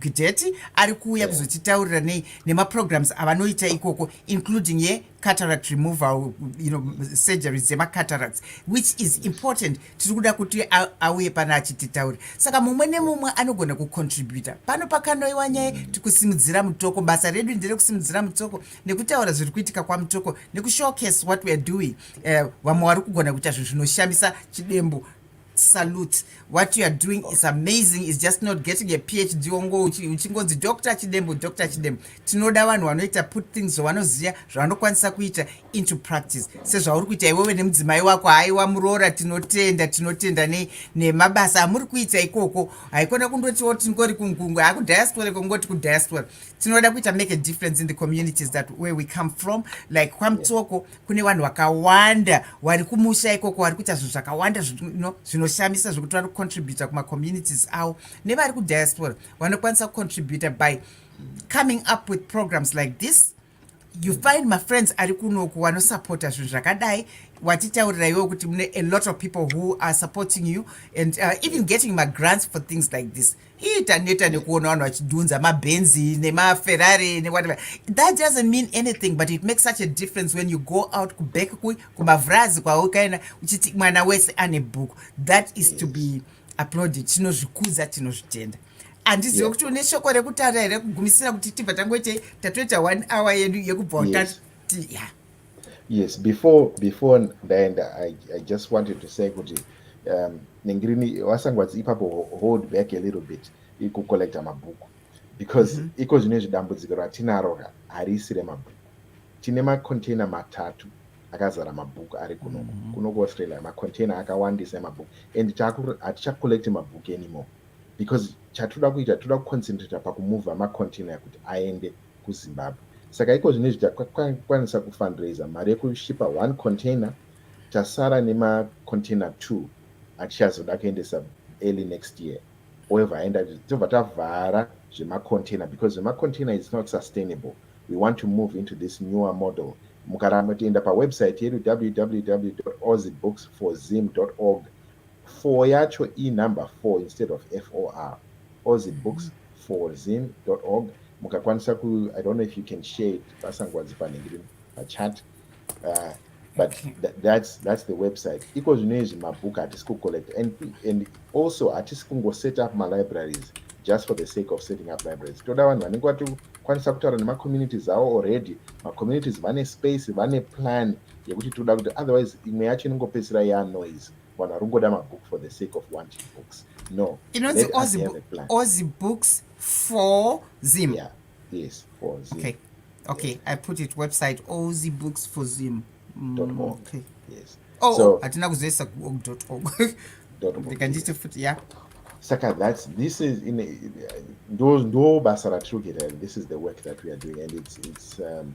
gideti ari kuuya yeah. kuzotitaurira nei nemaprograms avanoita ikoko including ye cataract removal you know, surgeries dzemacataracts which is important tiri kuda kuti auye pano achititaura saka mumwe nemumwe anogona kucontributa pano pakanoiwa nyaya tikusimudzira mutoko basa redu nderekusimudzira mutoko nekutaura zviri kuitika kwamutoko nekushowcase what weare doing eh, vamwe uh, vari kugona kuita zvinhu zvinoshamisa chidembo salute what you are doing is amazing is just not getting a phd ongo uchingonzi dr chidembo dr chidembo tinoda vanhu vanoita put things zvavanoziva zvavanokwanisa kuita into practice sezvauri kuita iwewe nemudzimai wako haiwa muroora tinotenda tinotenda nemabasa amuri kuita ikoko haikona kundotiwo tingori kungungwe hakudiaspora kongoti kudiaspora tinoda kuita make a difference in the communities that where we come from like kwamutsoko yeah. kune vanhu vakawanda wari kumusha ikoko wari kuita zvinhu zvakawanda zvinoshamisa no, zvekuti vari kucontributa kumacommunities avo nevari kudiaspora vanokwanisa kucontributa by coming up with programs like this you find mafriends ari kunoku vanosapota zvinhu zvakadai watitaurira iwewo kuti mune a lot of people who are supporting you and uh, even getting magrants for things like this ii taneta nekuona vanhu vachidhunza mabhenzi nemaferrari newhatever that doesn't mean anything but it makes such a difference when you go out kuback ku kumavhurazi kwaukaenda uchiti mwana wese ane bhuku that is to be applauded tinozvikudza tinozvitenda handizive kuti une shoko rekutaura here kugumisira kuti tibva tangoitei tatoita one hour yedu yekubva utati yeah. Yes, before before ndaenda I, I just wanted to say kuti um, nengirini wasangwadzi ipapo hold back a little bit ikucollecta mabhuku because mm -hmm. iko zvine zvidambudziko ratinaro ka harisi remabhuku tine macontainer matatu akazara mabhuku ari kuno mm -hmm. kuno kuaustralia macontainer akawandisa emabhuku and hatichacollecti mabhuku anymore because chatoda kuita toda kuconcentrata pakumova macontainer kuti aende kuZimbabwe. Saka iko zvino izvi takwanisa kufundraiser mari yekushipa one container tasara nemacontainer two atichazoda kuendesa early next year oeva aenda tobva tavhara zvemacontainer because zvemacontainer is not sustainable we want to move into this newer model mukaramba tienda pawebsite yedu www ozibooks for zim org Four yacho i number four instead of FOR. Ozi books for zim dot org mukakwanisa ku I don't know if you can share it vasangwadzi pane ndiri pachat uh, but th that's, that's the website iko zvino izvi mabook hatisi kucollect and, and also hatisi kungoset up malibraries just for the sake of setting up libraries toda vanhu vanenge vatokwanisa kutaura nemacommunities avo already macommunities vane space vane plan yekuti tinoda kuti otherwise imwe yacho inongopedzisira ya noise vanhu vari kungoda mabook for the sake of wanting books no inonzi ozi books for zim yeah. yes for zim okay. okay yes. i put it website ozi books for zim mm, okay. yes. oh, so, oh, hatina kuzoisa kuog org ndikanditi futi ya saka that's this is in ndo basa ratiri kuita this is the work that we are doing and it's, it's um,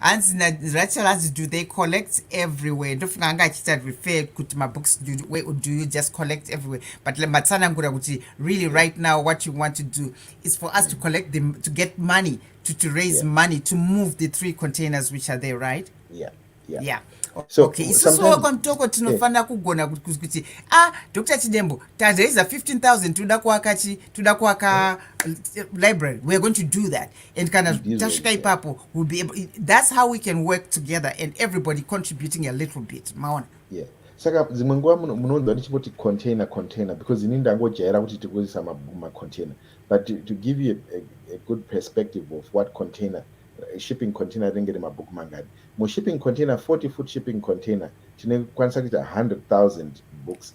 hanzi narachel hanzi do they collect everywhere ndofunga anga achiita refer kuti mabooks do, where, do you just collect everywhere but matsanangura kuti really right now what you want to do is for us to collect them to get money to, to raise yeah. money to move the three containers which are there right yeah yeah, yeah. So, okay isusu wekwa mutoko tinofanira yeah. kugona kuti ah dr chidembo taraiza 15000 toda kuaka chi toda kuaka yeah. library weare going to do that and kana tasvika ipapo will be able, that's how we can work together and everybody contributing a little bit maona yeah. saka dzimwe nguva munonzwa ndichingoti container container because ini ndangojaira kuti tikuisa macontainer but to, to give you a, a, a good perspective of what container eh, shipping container rinenge remabhuku mangani mushipping container 40 foot shipping container tinekwanisa kuita 100 000 books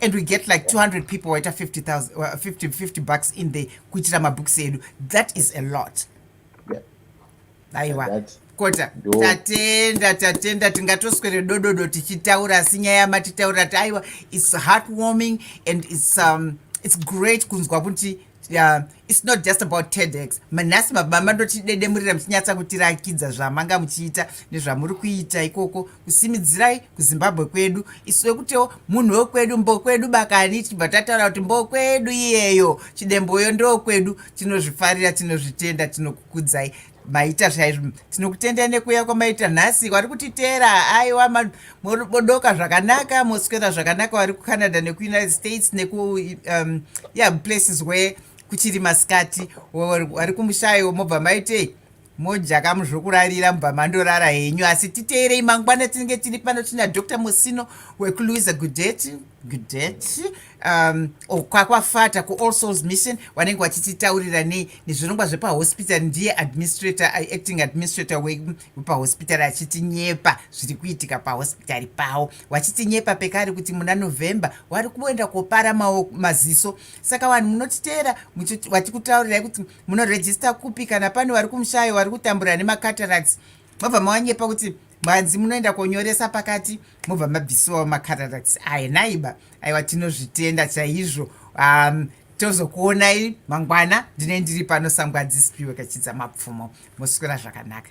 and we get like 200 people waita 50000 uh, 50, 50 bucks in the kuitira mabooks edu that is a lot aiwa kota tatenda tatenda tingatoswere dododo tichitaura asi nyaya yamatitaura ti aiwa its heartwarming and its, um, its great kunzwa kuti Yeah, it's not just about tedx manhasi mababa mandotidedemurira muchinyatsa kutirakidza zvamanga muchiita nezvamuri kuita ikoko kusimidzirai kuzimbabwe kwedu isu wekutiwo munhu wekwedu mbokwedu bakani tibva tataura kuti mbokwedu iyeyo chidemboyo ndokwedu tinozvifarira tinozvitenda tinokukudzai maita chaizvo tinokutendai nekuuya kwamaita nhasi wari kutiteera aiwa modoka zvakanaka moswera zvakanaka wari kucanada nekuunited states neku um, yeah, places where kuchiri masikati wari kumushayo mobva maitei mojaka muzvokurarira mubva mandorara henyu asi titeerei mangwana tinenge tiri pano tina dr musino wekulouisa gudeti Gdet um, oh, kwakwafata kuall souls mission wanenge wachititaurira nei nezvirongwa zvepahospital ndiye administrator uh, acting administrator wepahospital achitinyepa zviri kuitika pahospitari pawo wachitinyepa pekari kuti muna november wari kuenda kopara mawo maziso saka vanhu munotiteera wati kutaurirai kuti munorejista kupi kana pane wari kumushayo wari kutambura nemacatarax mobva mawanyepa kuti mwanzi munoenda konyoresa pakati mobva mabvisiwa macararacts aye naiba aiwa tinozvitenda chaizvo um, tozokuonai mangwana ndine ndiri pano sangwadzisipiwe kachidza mapfumo moswera zvakanaka